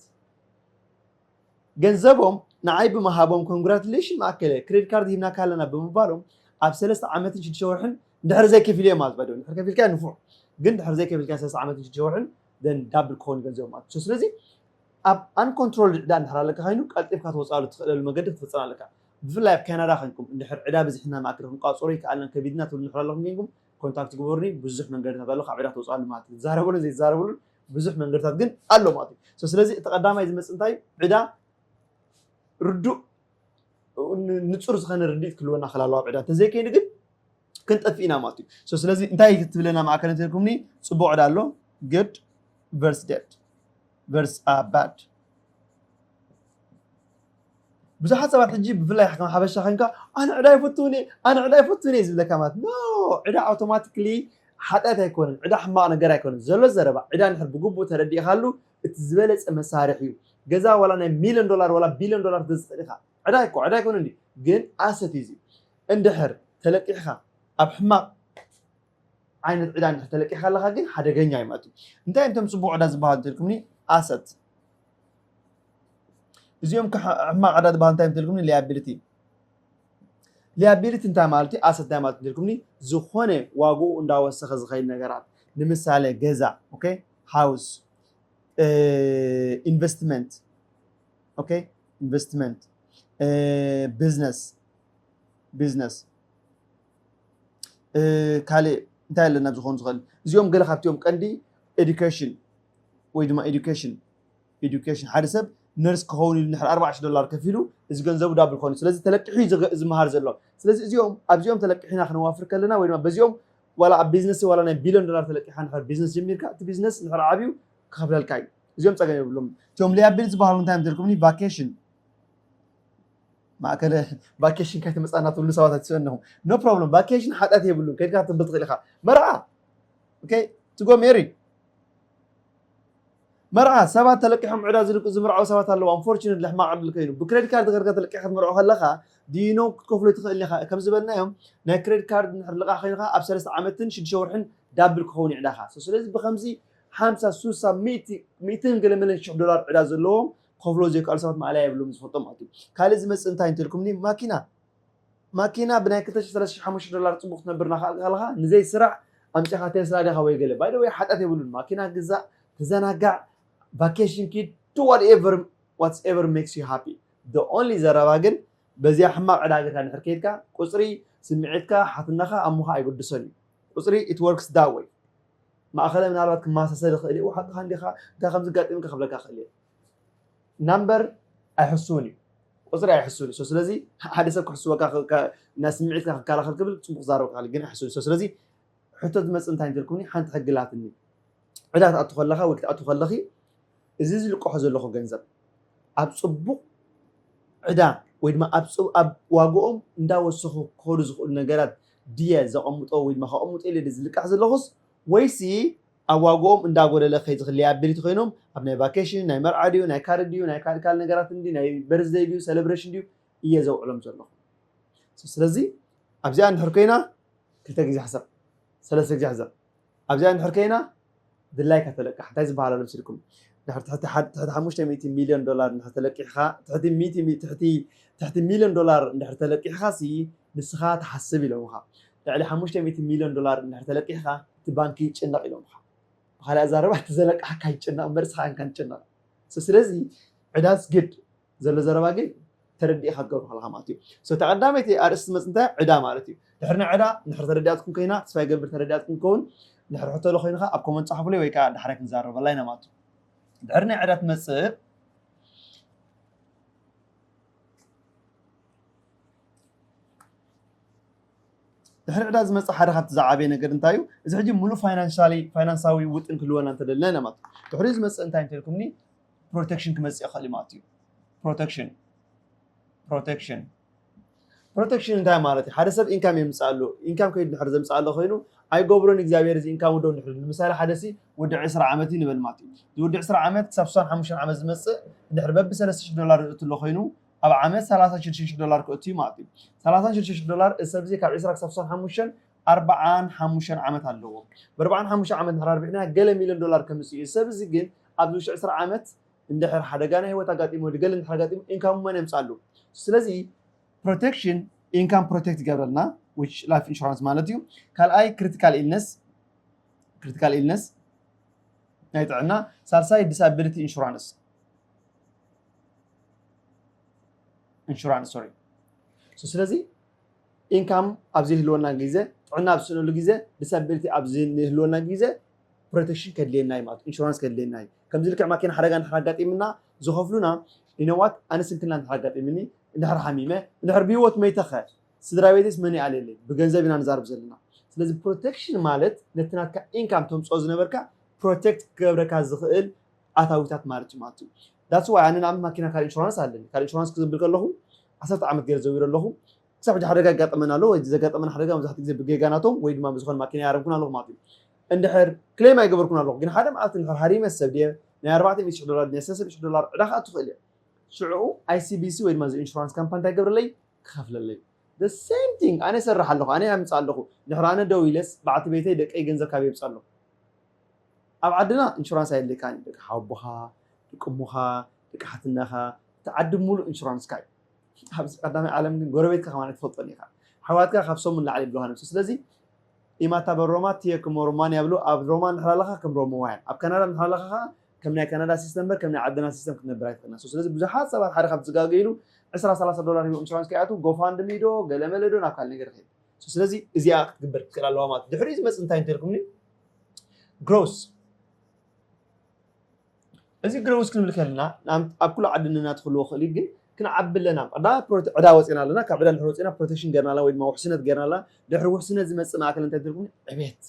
ገንዘቦም ንዓይ ብምሃቦም ኮንግራትሌሽን ማእከለ ክሬድ ካርድ ሂብናካ ኣለና ብምባሎም ኣብ ሰለስተ ዓመትን ሽዱሽተ ወርሕን እንድሕር ዘይከፊለዮ ማለት ባይ እንድሕር ከፊልካዮ ንፉዕ ግን እንድሕር ዘይከፊልካዮ ሰለስተ ዓመትን ሽዱሽተ ወርሕን ደን ዳብል ክኸውን ገንዘቦም ማለት እዩ ስለዚ ኣብ ኣንኮንትሮል ዕዳ እንድሕር ኣለካ ኮይኑ ቀልጢፍካ ትወፅኣሉ ትኽእለሉ መገዲ ክትፍፅም ኣለካ ብፍላይ ኣብ ካናዳ ኮይንኩም እንድሕር ዕዳ ብዝሕና ማእከል ክንቋፅሮ ይከኣልና ከቢድና ትብሉ እንድሕር ኣለኹም ኮይንኩም ኮንታክት ግበሩኒ ብዙሕ መንገድታት ኣሎ ካብ ዕዳ ትወፅኣሉ ማለት እዩ ዝዛረበሉን ዘይዛረበሉን ብዙሕ መንገድታት ግን ኣሎ ማለት እዩ So ስለዚ እቲ ቀዳማይ ዝመጽእ እንታይ እዩ? ዕዳ ርዱእ ን- ንጹር ዝኾነ ርድኢት ክህልወና ክል ኣለዋ ኣብ ዕዳ እንተዘይከይኑ ግን ክንጠፍእ ኢና ማለት እዩ So ስለዚ እንታይ እዩ ትብለና ማእከል እንተልኩምኒ ጽቡቕ ዕዳ ኣሎ good versus debt versus uh, bad ብዙሓት ሰባት ሕጂ ብፍላይ ከም ሓበሻ ዄንካ ኣነ ዕዳ ኣይፈቱን እየ ኣነ ዕዳ ኣይፈቱን እየ ዝብለካ ማለት ኖ ዕዳ ኣውቶማቲክሊ ሓጢኣት ኣይኮነን ዕዳ ሕማቕ ነገር ኣይኮነን ዘሎ ዘረባ ዕዳ ንድሕር ብግቡእ ተረዲእካሉ እቲ ዝበለጸ መሳርሒ እዩ ገዛ ዋላ ናይ ሚልዮን ዶላር ዋላ ቢልዮን ዶላር ክትገዝእ ኢኻ ዕዳ እኮ ዕዳ ኣይኮነን እዩ ግን ኣሰት እዩ እንድሕር ተለቂሕካ ኣብ ሕማቕ ዓይነት ዕዳ እንድሕር ተለቂሕካ ኣለኻ ግን ሓደገኛ እዩ ማለት እዩ እንታይ እንቶም ፅቡቕ ዕዳ ዝበሃሉ እንተልኩምኒ ኣሰት እዚኦም ከ ሕማቕ ዕዳ ዝበሃል እንታይ እንተልኩምኒ ሊያቢሊቲ ሊያቢሊቲ እንታይ ማለት እዩ ኣሰት እንታይ ማለት እንተልኩምኒ ዝኾነ ዋግኡ እንዳወሰኸ ዝኸይድ ነገራት ንምሳሌ ገዛ ኦኬ ሃውስ ኢንቨስትመንት ኦኬ ኢንቨስትመንት ቢዝነስ ቢዝነስ ካልእ እንታይ ኣለና ዝኾኑ ዝኽእል እዚኦም ገለ ካብቲኦም ቀንዲ ኤዱኬሽን ወይ ድማ ኤዱኬሽን ኤዱኬሽን ሓደ ሰብ ነርስ ክኸውን ኢሉ ድሕሪ ኣርባዕተ ሽሕ ዶላር ከፊሉ እዚ ገንዘቡ ዳብል ክኾን እዩ። ስለዚ ተለቂሑ እዩ ዝገ- ዝመሃር ዘሎ። ስለዚ እዚኦም ኣብዚኦም ተለቂሕና ክነዋፍር ከለና ወይ ድማ በዚኦም ዋላ ኣብ ቢዝነስ ዋላ ናይ ቢልዮን ዶላር ተለቂሕካ እንድሕር ቢዝነስ ጀሚርካ እቲ ቢዝነስ እንድሕር ዓብዩ ክኸፍለልካ እዩ። እዚኦም ጸገም የብሎምን። እቶም ሊያቢል ዝበሃሉ እንታይ እዮም ተልኩምኒ ቫኬሽን ማእከለ ቫኬሽን ከይተመጻና ትብሉ ሰባት ኣይትስእኑ ኣለኹም ኖ ፕሮብለም ቫኬሽን ሓጢኣት የብሉን ከድካ ክትብል ትኽእል ኢኻ መርዓ ኦኬ ትጎ ሜሪ መርዓ፣ ሰባት ተለቂሖም ዕዳ ዝልቁ ዝምርዓዉ ሰባት ኣለዉ፣ ኣንፎርቹነትሊ ሕማቕ ዕድል ከይኑ። ብክረዲት ካርድ ጌርካ ተለቂሕካ ክትምርዖ ከለኻ do you know ክትከፍሎ ትኽእል ኢኻ፣ ከም ዝበልናዮ ናይ ክረዲት ካርድ እንድሕር ልቓሕ ከይኑ ከኣ ኣብ ሰለስተ ዓመትን ሽዱሽተ ወርሕን ዳብል ክኸውን እዩ ዕዳኻ so ስለዚ ብኸምዚ ሓምሳ ሱሳ ሚእቲ ሚእትን ገለመለን ሽሕ ዶላር ዕዳ ዘለዎም ክኸፍልዎ ዘይከኣሉ ሰባት ማእለያ የብሎምን ዝፈልጦም ኣትዩ ካልእ ዝመጽእ እንታይ እንተልኩምኒ ማኪና ማኪና ብናይ ክልተ ሽሕ ሰለስተ ሽሕ ሓሙሽተ ሽሕ ዶላር ጽቡቅ ክትነብር ናካኣልካልካ ንዘይ ስራዕ ኣምጺካ ቴስላ ዲካ ወይ ገለ ባይ ዘ ወይ ሓጥያት የብሉን ማኪና ግዛእ ተዘናጋዕ ቫኬሽን ኪድ ዱ ዋት ኤቨር ዋትስ ኤቨር ሜክስ ዩ ሃፒ ዘ ኦንሊ ዘረባ ግን በዚኣ ሕማቅ ዕዳ ገርካ እንድሕር ከይድካ ቁጽሪ ስሚዒትካ ሓትነካ ኣሞካ ኣይግድሶን ዩ ቁጽሪ ኢት ወርክስ ዳት ወይ ማእከለ ምናልባት ክማሳሰል ይክእል ዩ ሓቅካ እንዲካ እንታይ ከም ዘጋጢምካ ክብለካ ክእል እየ ናምበር ኣይሕሱውን እዩ ቁፅሪ ኣይሕሱውን እዩ ስለዚ ሓደ ሰብ ክሕስወካ ናይ ስምዒትካ ክከላኸል ክብል ፅቡቅ ክዛረብ ክእል ግን ኣይሕሱውን እዩ ስለዚ ሕቶ ዝመፅእ እንታይ እንተልኩምኒ ሓንቲ ሕጊ ላትኒ ዕዳ ክትኣቱ ከለካ ወይ ክትኣቱ ከለኺ እዚ ዝልቀሖ ዘለኹ ገንዘብ ኣብ ፅቡቅ ዕዳ ወይ ድማ ኣብ ዋግኦም እንዳወሰኹ ክኸዱ ዝኽእሉ ነገራት ድየ ዘቐምጦ ወይ ድማ ከቐምጦ ኢለ ድየ ዝልቃሕ ዘለኹስ ወይሲ ኣብ ዋግኦም እንዳ ጎደለ ከይ ዝክለየ ኣቢል ተኮይኖም ኣብ ናይ ቫኬሽን ናይ መርዓ ድዩ ናይ ካርድ ድዩ ናይ ካልእ ካልእ ነገራት እንድዩ ናይ በርዝደይ ድዩ ሰለብረሽን ድዩ እየ ዘውዕሎም ዘለኩ ሶ ስለዚ ኣብዚኣ እንድሕር ኮይና ክልተ ግዜ ሕሰብ ሰለስተ ግዜ ሕሰብ ኣብዚኣ እንድሕር ኮይና ድላይካ ተለቃሕ እንታይ ዝበሃል ኣሎ መስልኩም ድሕር ትሕቲ ሓድ ትሕቲ ሓሙሽተ ሚእቲ ሚልዮን ዶላር እንድሕር ተለቂሕካ ትሕቲ ሚእቲ ትሕቲ ትሕቲ ሚልዮን ዶላር እንድሕር ተለቂሕካ ሲ ንስካ ትሓስብ ኢሎምካ ልዕሊ ሓሙሽተ ሚእቲ ሚልዮን ዶላር እንድሕር ተለቂሕኻ እቲ ባንኪ ይጭነቕ ኢሎምኻ። ብኻልእ ኣዘራርባ እቲ ዘለቃሕካ ይጨነቕ እምበር ንስኻ ኣይንካን ትጭነቕ። So ስለዚ ዕዳ is good ዘሎ ዘረባ ግን ተረዲእኻ ክትገብሮ ከለኻ ማለት እዩ። So እታ ቀዳመይቲ ኣርእስቲ ዝመጽእ እንታይ እያ ዕዳ ማለት እዩ። ድሕሪ ናይ ዕዳ እንድሕር ተረዲኣትኩም ኮይና ተስፋ ይገብር ተረዲኣትኩም ክኸውን እንድሕር ሕቶ ሎ ኮይኑ ከኣ ኣብ ኮመንት ጻሕፉለይ ወይ ከኣ ዳሕራይ ክንዛረበላ ኢና ማለት እዩ። ድሕሪ ናይ ዕዳ ትመጽእ ድሕሪ ዕዳ ዝመፅእ ሓደ ካብቲ ዝዓበየ ነገር እንታይ እዩ እዚ ሕጂ ሙሉእ ፋይናንሻሊ ፋይናንሳዊ ውጥን ክህልወና እንተደለና ኢና ማለት እዩ ድሕሪ ዝመፅእ እንታይ እንተልኩምኒ ፕሮቴክሽን ክመፅእ ይኽእል እዩ ማለት እዩ ፕሮቴክሽን ፕሮቴክሽን ፕሮቴክሽን እንታይ ማለት እዩ ሓደ ሰብ ኢንካም የምፅእ ኣሎ ኢንካም ከይዱ ድሕሪ ዘምፅእ ኣሎ ኮይኑ ኣይገብሮን እግዚኣብሔር እዚ ኢንካም ውዶ ንሕሉ ንምሳሌ ሓደ ሲ ወዲ ዕስራ ዓመት እዩ ንበል ማለት እዩ እዚ ወዲ ዕስራ ዓመት ክሳብ ስሳን ሓሙሽተን ዓመት ዝመፅእ ድሕሪ በቢ ሰለስተ ሽሕ ዶላር ይእቱ ኣሎ ኮይኑ ኣብ ዓመት ሰላሳን ሽዱሽተን ሽሕ ዶላር ከእቱ እዩ ማለት እዩ። ሰላሳን ሽዱሽተን ሽሕ ዶላር እዚ ሰብ እዚ ካብ ዕስራ ክሳብ ስሳን ሓሙሽተን ኣርባዓን ሓሙሽተን ዓመት ኣለዎ። ብኣርባዓን ሓሙሽተን ዓመት እንድሕር ኣርቢሕናዮ ገለ ሚልዮን ዶላር ከምጽእ እዩ። እዚ ሰብ እዚ ግን ኣብዚ ውሽጢ ዕስራ ዓመት እንድሕር ሓደጋ ናይ ህይወት ኣጋጢሞ ወይ ገለ እንድሕር ኣጋጢሞ ኢንካሙ መን የምጽኣሉ? ስለዚ ፕሮቴክሽን ኢንካም ፕሮቴክት ይገብረልና which ላይፍ ኢንሹራንስ ማለት እዩ። ካልኣይ ክሪቲካል ኢልነስ ክሪቲካል ኢልነስ ናይ ጥዕና፣ ሳልሳይ ዲሳቢሊቲ ኢንሹራንስ ኢንሹራንስ ሶሪ ስለዚ ኢንካም ኣብ ዘይህልወና ግዜ ጥዕና ኣብ ዝስእነሉ ግዜ ዲሳቢሊቲ ኣብ ዝህልወና ግዜ ፕሮቴክሽን ከድልየና እዩ ማለት ኢንሹራንስ ከድልየና እዩ ከምዚ ልክዕ ማኪና ሓደጋ እንድሕር ኣጋጢምና ዝኸፍሉና ኢነዋት ኣነ ስንክልና እንድሕር ኣጋጢምኒ እንድሕር ሓሚመ እንድሕር ብሂወት መይተኸ ስድራ ቤትስ መን ይኣልየለይ ብገንዘብ ኢና ንዛርብ ዘለና ስለዚ ፕሮቴክሽን ማለት ነቲ ናትካ ኢንካም ተምፅኦ ዝነበርካ ፕሮቴክት ክገብረካ ዝኽእል ኣታዊታት ማለት እዩ ማለት እዩ That's why ኣነ ንኣብነት ማኪና ካር ኢንሹራንስ ኣለኒ። ካር ኢንሹራንስ ክዝብል ከለኹ ዓሰርተ ዓመት ገይረ ዘዊረ ኣለኹ። ክሳብ ሕጂ ሓደጋ የጋጥመኒ ኣሎ። እዚ ዘጋጠመኒ ሓደጋ መብዛሕትኡ ግዜ ብጌጋ ናቶም ወይ ድማ ብዝኾነ ማኪና ኣይሃረምኩን ኣለኹ ማለት እዩ። እንድሕር ክሌም ኣይገበርኩን ኣለኹ ግን ሓደ መዓልቲ እንድሕር ሃሪመ ሰብ ድየ ናይ ኣርባዕተ ሚእቲ ሽሕ ዶላር ድየ ናይ ሰለስተ ሚእቲ ሽሕ ዶላር ዕዳ ክኣቱ ይኽእል እየ። ሽዑ ICBC ወይ ድማ እዚ ኢንሹራንስ ካምፓኒ እንታይ ይገብረለይ? ክኸፍለለይ። The same thing ኣነ ይሰርሕ ኣለኹ፣ ኣነ የምጽእ ኣለኹ። እንድሕር ኣነ ደው ኢለስ በዓልቲ ቤተይ፣ ደቀይ ገንዘብ ካበይ የምጽእ ኣለኹ? ኣብ ዓድና እንሹራንስ ኣየድልየካን እዩ ደቂ ሓወቦኻ ደቂ እሞኻ ደቂ ሓትናኻ እቲ ዓዲ ብምሉእ እንሹራንስካ እዩ ኣብዚ ቀዳማይ ዓለም ግን ጎረቤትካ ከማን ኣይትፈልጦን ኢኻ ኣሕዋትካ ካብ ሰሙን ላዕሊ ይብሉኻ ነብሱ ስለዚ ኢማታ በሮማ ትየ ክሞ ሮማን ያብሉ ኣብ ሮማ እንድሕር ኣለኻ ከም ሮማውያን ኣብ ካናዳ እንድሕር ኣለኻ ከዓ ከም ናይ ካናዳ ሲስተም በር ከም ናይ ዓድና ሲስተም ክትነብር ኣይትኽእልና ስለዚ ብዙሓት ሰባት ሓደ ካብ ዝጋገይሉ ዕስራ ሰላሳ ዶላር ሂቦም ኢንሹራንስ ከይኣትዉ ጎፋንድሚ ዶ ገለመለ ዶ ናብ ካልእ ነገር ይኸይድ ስለዚ እዚኣ ክትግበር ክትክእል ኣለዋ ማለት ድሕሪኡ ዝመፅእ እንታይ እንተልኩምኒ ግሮስ እዚ ግሮስ ክንብል ከለና ኣብ ኩሉ ዓዲ ንናትክልዎ ክእል እዩ ግን ክንዓቢ ኣለና ዕዳ ዕዳ ወፂና ኣለና ካብ ዕዳ ድሕሪ ወፂና ፕሮቴክሽን ገርና ኣለና ወይ ድማ ውሕስነት ገርና ኣለና ድሕሪ ውሕስነት ዝመፅእ ማእከል እንታይ ትርጉም ዕቤት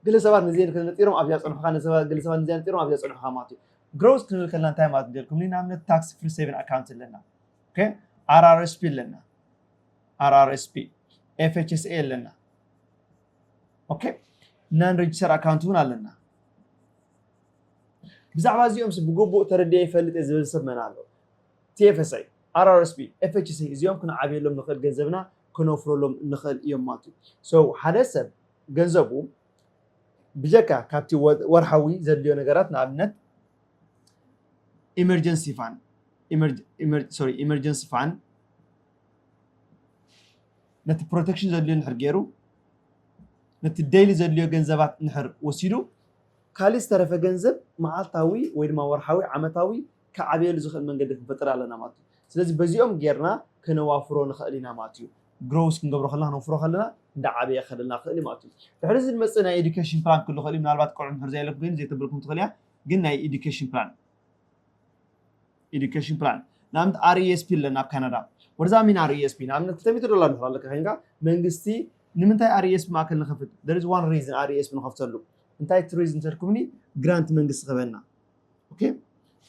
ገለ ሰባት ንዜ ነጢሮም ኣብዚኣ ፀንሑካ ገለ ሰባት ንዚኣ ነጢሮም ኣብዚኣ ፀንሑካ ማለት እዩ ግሮስ ክንብል ከለና እንታይ ማለት ንገርኩም ንኣብነት ታክስ ፍሪ ሴቪን ኣካውንት ኣለና ኣርኣርስፒ ኣለና ኣርኣርስፒ ኤፍኤችስኤ ኣለና ኦኬ ናን ሬጅስተር ኣካውንት እውን ኣለና ብዛዕባ እዚኦም ብግቡእ ተረድየ ይፈልጥ እየ ዝብል ሰብ መን ኣሎ ቲኤፍኤስኣይ ኣርኣርስቢ ኤፍኤችሲ እዚኦም ክንዓብየሎም ንኽእል ገንዘብና ክነፍረሎም ንኽእል እዮም ማለት እዩ ሰው ሓደ ሰብ ገንዘቡ ብጀካ ካብቲ ወርሓዊ ዘድልዮ ነገራት ንኣብነት ኢመርጀንሲ ፋን ሶሪ ኢመርጀንሲ ፋን ነቲ ፕሮተክሽን ዘድልዮ ንድሕር ገይሩ ነቲ ደይሊ ዘድልዮ ገንዘባት ንድሕር ወሲዱ ካልእ ዝተረፈ ገንዘብ መዓልታዊ ወይ ድማ ወርሓዊ ዓመታዊ ክዓብየሉ ዝኽእል መንገዲ ክንፈጥር ኣለና ማለት እዩ ስለዚ በዚኦም ጌርና ከነዋፍሮ ንኽእል ኢና ማለት እዩ ግሮውስ ክንገብሮ ከለና ክነውፍሮ ከለና እንዳዓበየ ከደልና ክእል እዩ ማለት እዩ ድሕሪ እዚ ዝመፅእ ናይ ኤዱኬሽን ፕላን ክህሉ ክእል እዩ ምናልባት ቆልዑ ድሕር ዘየለኩም ኮይኑ ዘይተብልኩም ትኽእል እያ ግን ናይ ኤዱኬሽን ፕላን ኤዱኬሽን ፕላን ንኣብነት ኣርኤስፒ ኣለና ኣብ ካናዳ ወርዛ ሚን ኣርኤስፒ ንኣብነት ክልተ ሚእቲ ዶላር ንኽእል ኣለካ ኮይንካ መንግስቲ ንምንታይ ኣርኤስፒ ማእከል ንኸፍት there is one reason ኣርኤስፒ ንኸፍተሉ እንታይ እቲ ሪዝን ተልኩምኒ ግራንት መንግስቲ ክህበና ኦኬ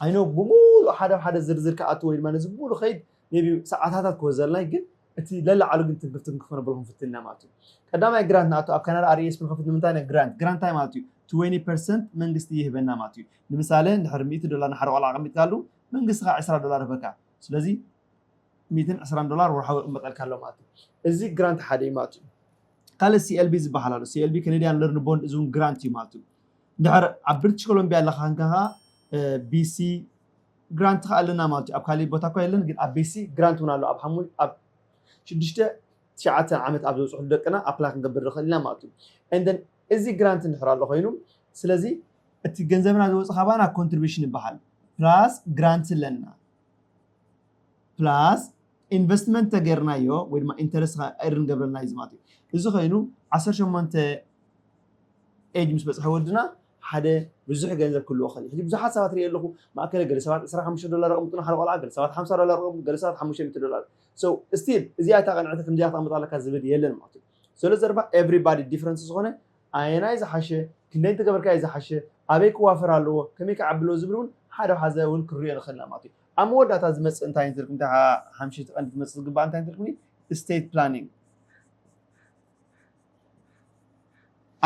ኣይኖ ብምሉእ ሓደ ሓደ ዝርዝር ክኣትዎ ኢልማ ነዚ ብምሉእ ከይድ maybe ሰዓታታት ክወስድ ዘልናይ ግን እቲ ለላዕሉ ግን ትምህርቲ ክንክፈኖ ብልኩም ፍትና ማለት እዩ ቀዳማይ ግራት ንኣቶ ኣብ ካናዳ ኣርኤስ ብንከፍት ንምንታይ ነ ግራንት ግራንት እንታይ ማለት እዩ 20 ፐርሰንት መንግስቲ ይህበና ማለት እዩ ንምሳሌ ንድሕሪ 100 ዶላር ንሓደ ቆልዓ ኣቐሚጥካሉ መንግስቲ ከዓ 20 ዶላር ህበካ ስለዚ 120 ዶላር ወርሓዊ ይቕመጠልካ ኣሎ ማለት እዩ እዚ ግራንት ሓደ እዩ ማለት እዩ ካልእ ሲኤልቢ ዝበሃል ኣሎ ሲኤልቢ ከነድያን ለርን ቦንድ እዚ እውን ግራንት እዩ ማለት እዩ እንድሕር ኣብ ብሪቲሽ ኮሎምቢያ ኣለካ ክንካ ከዓ ቢሲ ግራንት ከኣ ኣለና ማለት'ዩ ኣብ ካሊእ ቦታ እኳ የለን ግን ኣብ ቤሲ ግራንት ውን ኣሎ ኣብ ሓሙሽ ኣብ ሽዱሽተ ትሽዓተ ዓመት ኣብ ዘብጽሕሉ ደቅና ኣፕላይ ክንገብር ንክእል ኢና ማለት'ዩ and then እዚ ግራንት እንድሕር ኣሎ ኮይኑ ስለዚ እቲ ገንዘብና ዝወጽእ ካባና ኮንትሪቢሽን ይበሃል ፕላስ ግራንት ኣለና ፕላስ ኢንቨስትመንት ተገይርናዮ ወይ ድማ ኢንተረስት ከኣ ኤርን ገብረልና እዩ እዚ ማለት እዩ እዚ ኮይኑ ዓሰርተ ሸሞንተ ኤጅ ምስ በጽሐ ወድና ሓደ ብዙሕ ገንዘብ ክህልዎ ክኽእል እዩ። ሕጂ ብዙሓት ሰባት ርእየ ኣለኹ፣ ማእከለ ገለ ሰባት ዕስራ ሓሙሽተ ዶላር የቐምጡ ንሓደ ቆልዓ፣ ገለ ሰባት ሓምሳ ዶላር የቐምጡ፣ ገለ ሰባት ሓሙሽተ ሚእቲ ዶላር። So still እዚኣ እታ ቅንዕቲ ከምዚኣ ክተቕምጣ ኣለካ ዝብል የለን ማለት እዩ። ሰሎ ዘረባ everybody different ዝኾነ ኣየናይ ዝሓሸ፣ ክንደይ እንተገበርካ'ዩ ዝሓሸ፣ ኣበይ ክዋፈር ኣለዎ፣ ከመይ ክዓቢ ኣለዎ ዝብል እውን ሓደ ሓዘ እውን ክንርእዮ ንኽእል ኢና ማለት እዩ። ኣብ መወዳእታ ዝመጽእ እንታይ እንተልኩም፣ እታ ሓምሸይቲ ቀንዲ ክትመጽእ ዝግባኣ እንታይ እንተልኩምኒ፣ State Planning።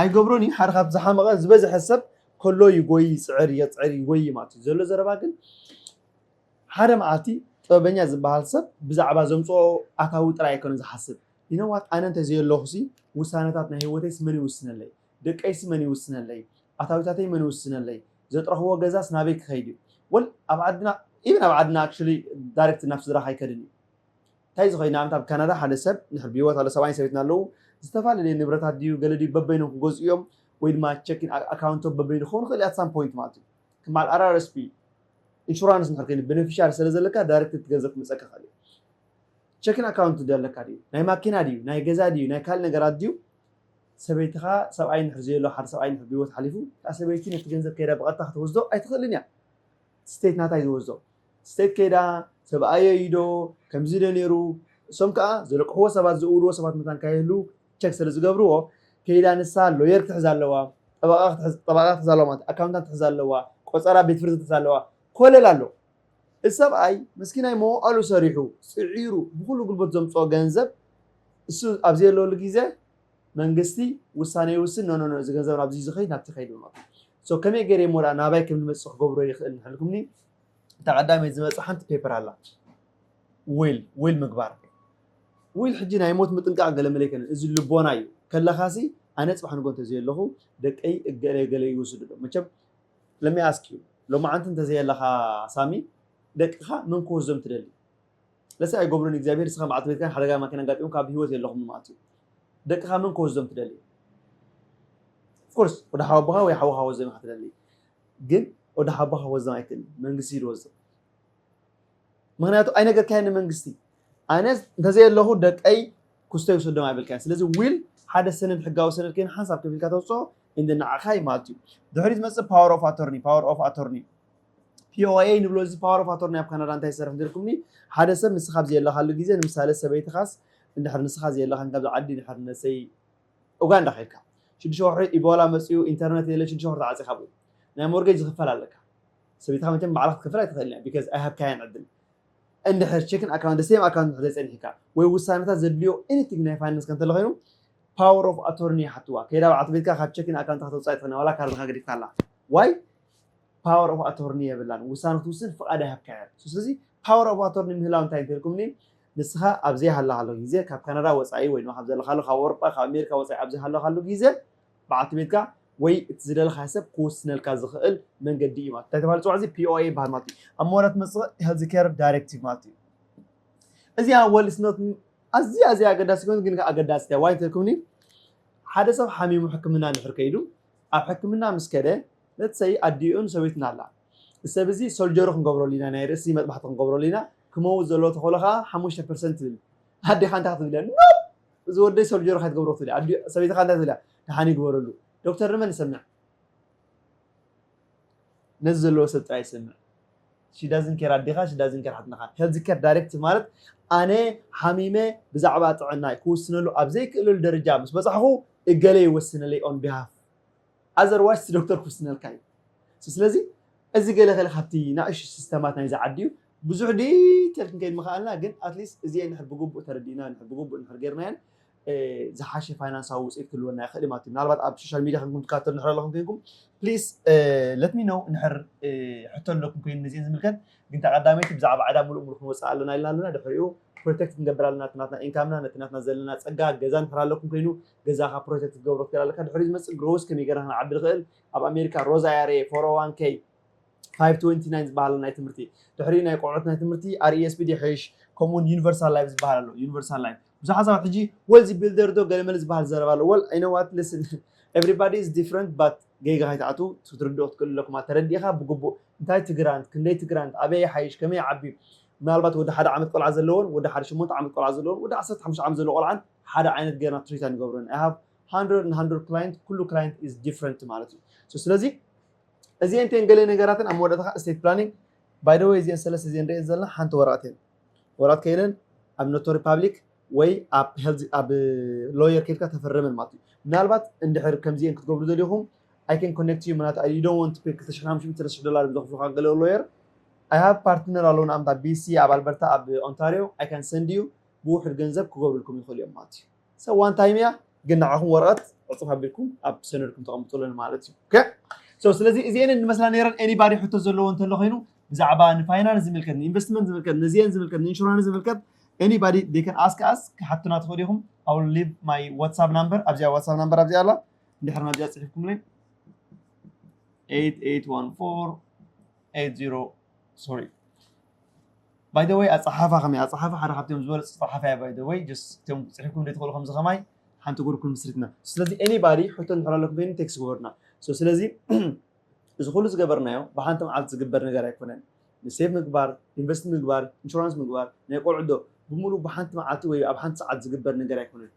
ኣይገብሮን እዩ ሓደ ካብ ዝሓመቐ ዝበዝሐ ሰብ ከሎ ይጎይ ይፅዕር የፅዕር ይጎይ ማለት እዩ ዘሎ ዘረባ ግን ሓደ መዓልቲ ጥበበኛ ዝበሃል ሰብ ብዛዕባ ዘምፅኦ ኣታዊ ጥራይ ኣይኮነ ዝሓስብ ይነዋት ኣነ እንተዘየለኹሲ ውሳነታት ናይ ህይወተይስ መን ይውስነለይ ደቀይሲ መን ይውስነለይ ኣታዊታተይ መን ይውስነለይ ዘጥረኽዎ ገዛስ ናበይ ክኸይድ እዩ ወል ኣብ ዓድና ኢቨን ኣብ ዓድና ኣክቹዋሊ ዳይሬክት ናብ ስድራኻ ኣይከድን እዩ ታይ እዚ ኮይና ኣንታ ኣብ ካናዳ ሓደ ሰብ እንድሕር ብሂወት ኣሎ ሰብኣይን ሰበይትን ኣለዉ ዝተፋለለየ ንብረታት ድዩ ገለ ድዩ በበይኖም ክገዝኡ እዮም ወይ ድማ ቸኪን ኣካውንቶም በበይኑ ክከውን ይክእል ኣት ሳም ፖይንት ማለት እዩ ከም በዓል RRSP ኢንሹራንስ እንድሕር ኮይኑ በነፊሻሪ ስለ ዘለካ ዳይረክት እቲ ገንዘብ ክመፀካ ይክእል እዩ ቸኪን ኣካውንት ድዩ ኣለካ ድዩ ናይ ማኪና ድዩ ናይ ገዛ ድዩ ናይ ካልእ ነገራት ድዩ ሰበይትካ ሰብኣይ እንድሕር ዘየሎ ሓደ ሰብኣይ እንድሕር ብሂወት ሓሊፉ እታ ሰበይቲ ነቲ ገንዘብ ከይዳ ብቀጥታ ክትወስዶ ኣይትክእልን እያ ስቴት ናታ ይወዞ ስቴት ከይዳ ሰብኣየይ እዩ ዶ ከምዚ ዶ ኔሩ እሶም ከኣ ዘለቅሕዎ ሰባት ዝእውልዎ ሰባት መታን ካይህሉ ቸክ ስለ ዝገብርዎ ከይዳ ንሳ ሎየር ክትሕዝ ኣለዋ ጠበቃ ክትሕዝ ጠበቃ ክትሕዝ ኣለዋ ማለት ኣካውንታንት ክትሕዝ ኣለዋ ቆጸራ ቤት ፍርዲ ክትሕዝ ኣለዋ ኮለል ኣሎ እዚ ሰብኣይ መስኪናይ መዋኣሉ ሰሪሑ ጽዒሩ ብኩሉ ጉልበቱ ዘምጽኦ ገንዘብ እሱ ኣብ ዘየለሉ ግዜ መንግስቲ ውሳነ ይውስን ኖኖኖ እዚ ገንዘብ ናብዚ ዝኸይድ ናብቲ ይኸይድ ብሎ ሶ ከመይ ገይረ እሞ ደኣ ናባይ ከም ዝመጽእ ክገብሮ ይኽእል እንተልኩምኒ እታ ቀዳመይቲ ዝመጽእ ሓንቲ ፔፐር ኣላ ዊል ዊል ምግባር ዊል ሕጂ ናይ ሞት ምጥንቃቕ ገለ መለ ኣይኮነን እዚ ልቦና እዩ ከለኻሲ ኣነ ጽባሕ ንጎ እንተዘየለኹ ደቀይ እገለ ገለ ይውስዱ ዶ መቸም ለሚ ኣስክ ዩ ሎማዓንቲ እንተዘየለኻ ሳሚ ደቅኻ መን ክወስዶም ትደሊ ለሰ ኣይገብሩን እግዚኣብሔር ንስካ በዓልቲ ቤትካን ሓደጋ ማኪና ኣጋጢሙካ ኣብ ሂወት የለኩምን ማለት እዩ ደቅካ መን ክወስዶም ትደሊ of course ወደ ሓወቦኻ ወይ ሓወኻ ክወስዶም ኢካ ትደሊ ግን ወደ ሓወቦኻ ክወስዶም ኣይክእልን መንግስቲ እዩ ዝወስዶም ምክንያቱ ኣይነገርካዮ ንመንግስቲ ኣነ እንተዘየለኹ ደቀይ ኩስቶ ይውሰዶም ኣይበልካዮ ስለዚ ዊል ሓደ ሰነድ ሕጋዊ ሰነድ ኮይኑ ሓንሳብ ከፊልካ ተውፅኦ እንደ ንዓኻ ማለት እዩ ድሕሪ ዝመፅእ ፓወር ኦፍ ኣቶርኒ ፓወር ኦፍ ኣቶርኒ POA ንብሎ እዚ ፓወር ኦፍ ኣቶርኒ ኣብ ካናዳ እንታይ ይሰርሕ እንተልኩምኒ ሓደ ሰብ ንስኻ ኣብ ዘየለኻሉ ግዜ ንምሳሌ ሰበይትኻስ እንድሕር ንስኻ ዘየለኻን ካብዚ ዓዲ እንድሕር ነሰይ ኡጋንዳ ከድካ ሽዱሽተ ወርሒ ኢቦላ መፅኡ ኢንተርነት የለ ሽዱሽተ ወርሒ ተዓፂኻ ብኡ ናይ ሞርጌጅ ዝኽፈል ኣለካ ሰበይትኻ መቸም ባዕላ ክትከፍል ኣይትኽእልን እያ ቢካዝ ኣይሃብካያን ዕድል እንድሕር ቼክን ኣካውንት ሴም ኣካውንት እንድሕር ዘይፀኒሕካ ወይ ውሳነታት ዘድልዮ ኤኒቲንግ ናይ ፋይናንስ ከም እንተሎ ኮይኑ ፓወር ኦፍ ኣቶርኒ ይሓትዋ ከይዳ በዓልቲ ቤትካ ካብ ቼክን ኣካውንትካ ተውፃእ ኣይትኽእልን ዋላ ካርድኻ ገዲፍካ ኣላ ዋይ ፓወር ኦፍ ኣቶርኒ የብላን ውሳነ ክትውስን ፍቃድ ኣይሃብካያ ኣሎ ስለዚ ፓወር ኦፍ ኣቶርኒ ምህላው እንታይ እንተልኩምኒ ንስኻ ኣብ ዘይሃለኻሉ ግዜ ካብ ካናዳ ወጻኢ ወይ ድማ ካብ ዘለኻሉ ካብ ኣውሮጳ ካብ ኣሜሪካ ወጻኢ ኣብ ዘይሃለኻሉ ግዜ በዓልቲ ቤትካ ወይ እቲ ዝደለኻዮ ሰብ ክውስነልካ ዝኽእል መንገዲ እዩ ማለት እንታይ ተባሂሉ ጽዋዕ እዚ ፒኦኤ ይበሃል ማለት እዩ ኣብ መወዳት መጽእ ሄልዝ ኬር ዳይሬክቲቭ ማለት እዩ እዚኣ ወልስኖት ኣዝያ ኣዝያ ኣገዳሲ ኮይኑ ግን ኣገዳሲ ዋይ እንተልኩምኒ ሓደ ሰብ ሓሚሙ ሕክምና እንድሕር ከይዱ ኣብ ሕክምና ምስ ከደ let's say ኣዲኡን ሰበይቱን ኣላ እዚ ሰብ እዚ ሶልጀሪ ክንገብረሉ ኢና ናይ ርእሲ መጥባሕቲ ክንገብረሉ ኢና ክመውት ዘለዎ ተኽእሎ ከኣ ሓሙሽተ ፐርሰንት ትብል ኣዴኻ እንታይ ክትብልያ ኖፕ እዚ ወደይ ሶልጀሪ ከይትገብሮ ክትብልያ ኣዲ ሰበይትኻ እንታይ ክትብልያ ደሓን እዩ ግበረሉ ዶክተር ንመን ንሰምዕ ነዚ ዘለዎ ሰብ ጥራይ ይሰምዕ ሺ ዳዝን ኬር ኣዴኻ ሺ ዳዝን ኬር ሓትነኻ ሄልዝ ኬር ዳይሬክት ማለት ኣነ ሓሚመ ብዛዕባ ጥዕናይ ክውስነሉ ኣብ ዘይክእለሉ ደረጃ ምስ በጻሕኹ እገለ ይወስነለይ ኦን ቢሃፍ ኣዘር ዋይስ እቲ ዶክተር ክውስነልካ እዩ ስለዚ እዚ ገለ ከለ ካብቲ ናእሽቱ ሲስተማት ናይዚ ዓዲ እዩ ብዙሕ ዲቴል ክንከይድ ምኸኣልና ግን ኣትሊስት እዚኤን ድሕር ብግቡእ ተረዲእና ድሕር ብግቡእ ድሕር ጌርናየን ዝሓሸ ፋይናንሳዊ ውፅኢት ክህልወና ይኽእል እዩ ማለት እዩ። ምናልባት ኣብ ሶሻል ሚዲያ ኮይንኩም ትከታተሉ እንድሕር ኣለኹም ኮይንኩም ፕሊስ ለት ሚ ኖው እንድሕር ሕቶ ኣለኩም ኮይኑ ነዚኤን ዝምልከት ግን እታ ቀዳመይቲ ብዛዕባ ዕዳ ምሉእ ምሉእ ክንወፅእ ኣለና ኢልና ኣለና ድሕሪኡ ፕሮቴክት ክንገብር ኣለና እቲ ናትና ኢንካምና ነቲ ናትና ዘለና ፀጋ ገዛ እንድሕር ኣለኩም ኮይኑ ገዛኻ ፕሮቴክት ክትገብሮ ትኽእል ኣለካ ድሕሪኡ ዝመፅእ ግሮውስ ከመይ ጌርና ክንዓቢ ንኽእል ኣብ ኣሜሪካ ሮዝ ኣይኣርኤ ፎር ኦ ዋን ከይ 529 ዝበሃል ናይ ትምህርቲ ድሕሪ ናይ ቆልዑት ናይ ትምህርቲ RESP ይሐይሽ ከምኡውን ዩኒቨርሳል ላይፍ ዝበሃል ኣሎ ዩኒቨርሳል ላይፍ ብዙሓት ሰባት ሕጂ ወልዚ ቢልደር ዶ ገለመለ ዝበሃል ዘረባ ኣሎ ወል ኣይ ኖ ዋት ሊስን ኤቭሪባዲ ኢዝ ዲፍረንት ባት ጌጋ ከይትኣትዉ ክትርድኡ ክትክእሉ ኣለኩም ተረዲእኻ ብግቡእ እንታይ ትግራንት ክንደይ ትግራንት ኣበይ ይሓይሽ ከመይ ይዓቢ ምናልባት ወዲ ሓደ ዓመት ቆልዓ ዘለዎን ወዲ ሓደ ሸሞንተ ዓመት ቆልዓ ዘለዎን ወዲ ዓሰርተ ሓሙሽተ ዓመት ዘለዎ ቆልዓን ሓደ ዓይነት ጌርና ትሪት ኣይንገብሮን ኣይ ሃቭ ሃንድረድ ን ሃንድረድ ክላይንት ኩሉ ክላይንት ኢዝ ዲፍረንት ማለት እዩ ስለዚ እዚኤን እተን ገለ ነገራትን ኣብ መወዳእታኻ እስቴት ፕላኒንግ ባይ ዘ ወይ እዚኤን ሰለስተ እዚኤን ንሪኤን ዘለና ሓንቲ ወረቐት እየን ወረቐት ከይለን ኣብ ኖቶሪ ፓብሊክ ወይ ኣብ ሄልዝ ኣብ ሎየር ከይድካ ተፈረመን ማለት እዩ ምናልባት እንድሕር ከምዚኤን ክትገብሩ ዘልኹም ኣይ ከን ኮኔክት ዩ ምናት ዩ ዶን ወንት ፔ ክልተ ሽሕን ሓሙሽተ ሚእቲ ሽሕ ዶላር ዘኽፍሉካ ገለ ሎየር ኣይ ሃቭ ፓርትነር ኣለውና ኣምታ ቢሲ ኣብ ኣልበርታ ኣብ ኦንታሪዮ ኣይ ካን ሰንድ ዩ ብውሕድ ገንዘብ ክገብሩልኩም ይኽእሉ እዮም ማለት እዩ So one time እያ ግን ንዓኹም ወረቐት ዕፁብ ኣቢልኩም ኣብ ሰነድኩም ተቐምጡ ኣለኒ ማለት እዩ ኦኬ ሶ ስለዚ እዚኤን እንመስላ ነይረን ኤኒባዲ ሕቶ ዘለዎ እንተሎ ኮይኑ ብዛዕባ ንፋይናንስ ዝምልከት ንኢንቨስትመንት ዝምልከት ነዚኤን ዝምልከት ንኢንሹራንስ ዝምልከት ኤኒባዲ they can ask us ክሓቱና ትኽእሉ ኢኹም I will leave my WhatsApp number ኣብዚኣ WhatsApp number ኣብዚኣ ኣላ እንድሕር ናብዚኣ ፅሒፍኩምለይ 8814 80 sorry ባይ ዘ ወይ ኣጸሓሕፋ ከመይ እያ? ኣጸሓሕፋ ሓደ ካብቶም ዝበለጹ ጸሓፍያ ባይ ዘ ወይ ጀስት እቶም ክጽሕፍኩም ዘይትኽእሉ ከምዚ ከማይ ሓንቲ ጉርፕ ምስሪትና ስለዚ ኤኒባዲ ሕቶ እንድሕር ኣለኩም ኮይኑ ቴክስት ግበሩና ሶ ስለዚ እዚ ኩሉ ዝገበርናዮ ብሓንቲ መዓልቲ ዝግበር ነገር ኣይኮነን ንሴቭ ምግባር ኢንቨስት ምግባር ኢንሹራንስ ምግባር ናይ ቆልዑ ዶ ብምሉእ ብሓንቲ መዓልቲ ወይ ኣብ ሓንቲ ሰዓት ዝግበር ነገር ኣይኮነን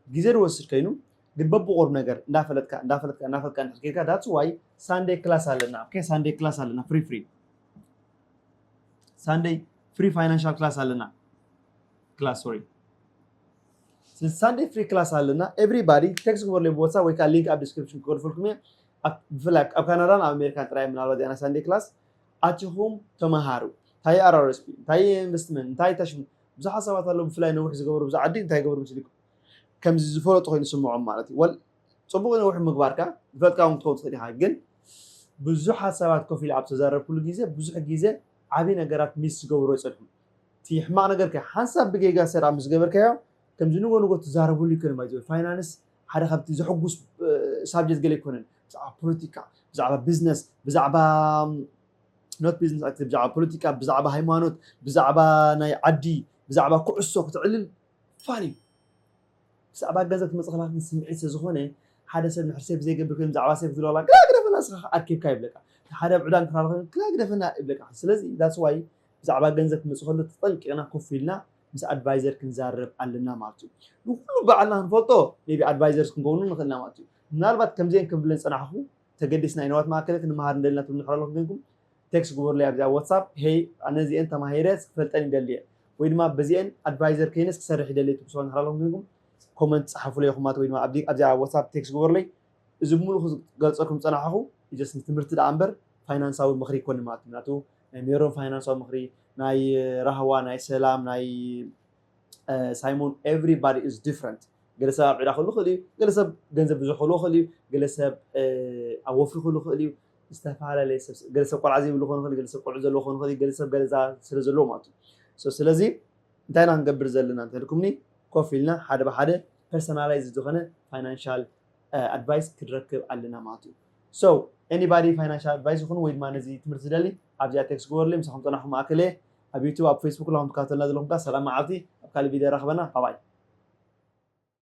ግዜ ዝወስድ ከይኑ ግን በብቑርብ ነገር እንዳፈለጥካ እንዳፈለጥካ እንዳፈለጥካ እንድሕር ኬድካ ዳትስ ዋይ ሳንዴ ክላስ ኣለና ኦኬ ሳንዴ ክላስ ኣለና ፍሪ ፍሪ ሳንደይ ፍሪ ፋይናንሻል ክላስ ኣለና ክላስ ሶሪ ሳንደይ ፍሪ ክላስ ኣለና ኤቭሪባዲ ቴክስ ክበርለይ ብወሳ ወይ ከዓ ሊንክ ኣብ ዲስክሪፕሽን ክገድፈልኩም እየ ኣብ- ብፍላይ ኣብ ካናዳን ኣብ ኣሜሪካን ጥራይ ምናልባት ዚኣና ሳንደይ ክላስ ኣቲኹም ተምሃሩ እንታይ ኣራርስፒ እንታይ ኢንቨስትመንት እንታይ ታሽሙ ብዙሓት ሰባት ኣለዉ ብፍላይ ነዊሕ ዝገበሩ ብዛ ዓዲ እንታይ ገበሩ ምስልኩም ከምዚ ዝፈለጡ ኮይኑ ስምዖም ማለት እዩ ወል- ጽቡቕ ነዊሕ ምግባርካ ዝፈትካ ውን ክትከውን ትኽእል ኢኻ ግን ብዙሕ ሓሳባት ኮፍ ኢለ ኣብ ዝተዛረብኩሉ ግዜ ብዙሕ ግዜ ዓቢ ነገራት ሚስ ዝገብሩ ኣይጸንሑን እቲ ሕማቕ ነገር ከ ሓንሳብ ብጌጋ ሰራ ምስ ገበርካዮ ከምዚ ንጎ ንጎ ትዛረበሉ ኣይኮነን ባይ ዘ ወይ ፋይናንስ ሓደ ካብቲ ዘሕጉስ ሳብጀክት ገለ ኣይኮነን ብዛዕባ ፖለቲካ ብዛዕባ ቢዝነስ ብዛዕባ ኖት ቢዝነስ ኣክት ብዛዕባ ፖለቲካ ብዛዕባ ሃይማኖት ብዛዕባ ናይ ዓዲ ብዛዕባ ኩዕሶ ክትዕልል ፋን እዩ ብዛዕባ ገንዘብ ትመጽእ ከላ ግን ስምዒት ስለ ዝኾነ ሓደ ሰብ ንሕር ሴቭ ዘይገብር ኮይኑ ብዛዕባ ሴቭ ክትብሎ ከላ ግዳ ግደፈና ንስኻ ከኣ ኣርኪብካ ይብለካ እቲ ሓደ ኣብ ዕዳ እንተራሎ ኮይኑ ግዳ ግደፈና ይብለካ ስለዚ ዳትስ ዋይ ብዛዕባ ገንዘብ ክመጽእ ከሎ ተጠንቂቕና ኮፍ ኢልና ምስ ኣድቫይዘር ክንዛረብ ኣለና ማለት እዩ ንኩሉ ባዕልና ክንፈልጦ ሜቢ ኣድቫይዘርስ ክንከውኑ ንኽእልና ማለት እዩ ምናልባት ከምዚኤን ከም ብለን ዝጸናሕኩ ተገዲስና ኢና ወት ማእከለ ክንመሃር ንደሊ ናትኩም ንሕር ኣለኩም ኬንኩም ቴክስ ግበሩለይ ኣብዚ ኣብ ዋትሳፕ ሄይ ኣነ እዚኤን ተማሂረ ክፈልጠን ይደሊ እየ ወይ ድማ በዚኤን ኣድቫይዘር ከይነስ ክሰርሕ ይደሊ እየ ትብሉ ሰባት ንሕር ኣለኩም ኬንኩም ኮመንት ጻሓፉለይ የኩማት ወይ ድማ ኣብዚ ኣብዚ ኣብ ዋትሳፕ ቴክስ ግበሩለይ እዚ ብሙሉኡ ክገልጸልኩም ዝጸናሓኩ ጀስት ንትምህርቲ ደኣ እምበር ፋይናንሳዊ ምክሪ ኣይኮንን ማለት እዩ ምክንያቱ ናይ ሜሮን ፋይናንሳዊ ምክሪ ናይ ራህዋ ናይ ሰላም ናይ ሳይሞን ኤቭሪ ባዲ ኢዝ ዲፍረንት ገለ ሰብ ኣብ ዕዳ ክህሉ ይኽእል እዩ ገለ ሰብ ገንዘብ ብዙሕ ክህልዎ ይኽእል እዩ ገለ ሰብ ኣብ ወፍሪ ክህሉ ይኽእል እዩ ዝተፈላለየ ሰብ ገለ ሰብ ቆልዓ ዘይብሉ ክኾን ይኽእል ገለ ሰብ ቆልዑ ዘለዎ ክኾን ይኽእል ገለ ሰብ ገለዛ ስለ ዘለዎ ማለት እዩ ስለዚ እንታይ ኢና ክንገብር ዘለና እንተልኩምኒ ኮፍ ኢልና ሓደ ብሓደ ፐርሰናላይዝ ዝኾነ ፋይናንሻል ኣድቫይስ ክንረክብ ኣለና ማለት እዩ ሶ ኤኒባዲ ፋይናንሻል ኣድቫይስ ይኹን ወይ ድማ ነዚ ትምህርቲ ዝደሊ ኣብዚኣ ቴክስ ግበሩለይ ምሳኹም ፀናኹም ማእከለ ኣብ ዩቱብ ኣብ ፈይስቡክ ለኹም ትካታተሉና ዘለኹም ከኣ ሰላም መዓልቲ ኣብ ካልእ ቪድዮ የራኽበና ባባይ።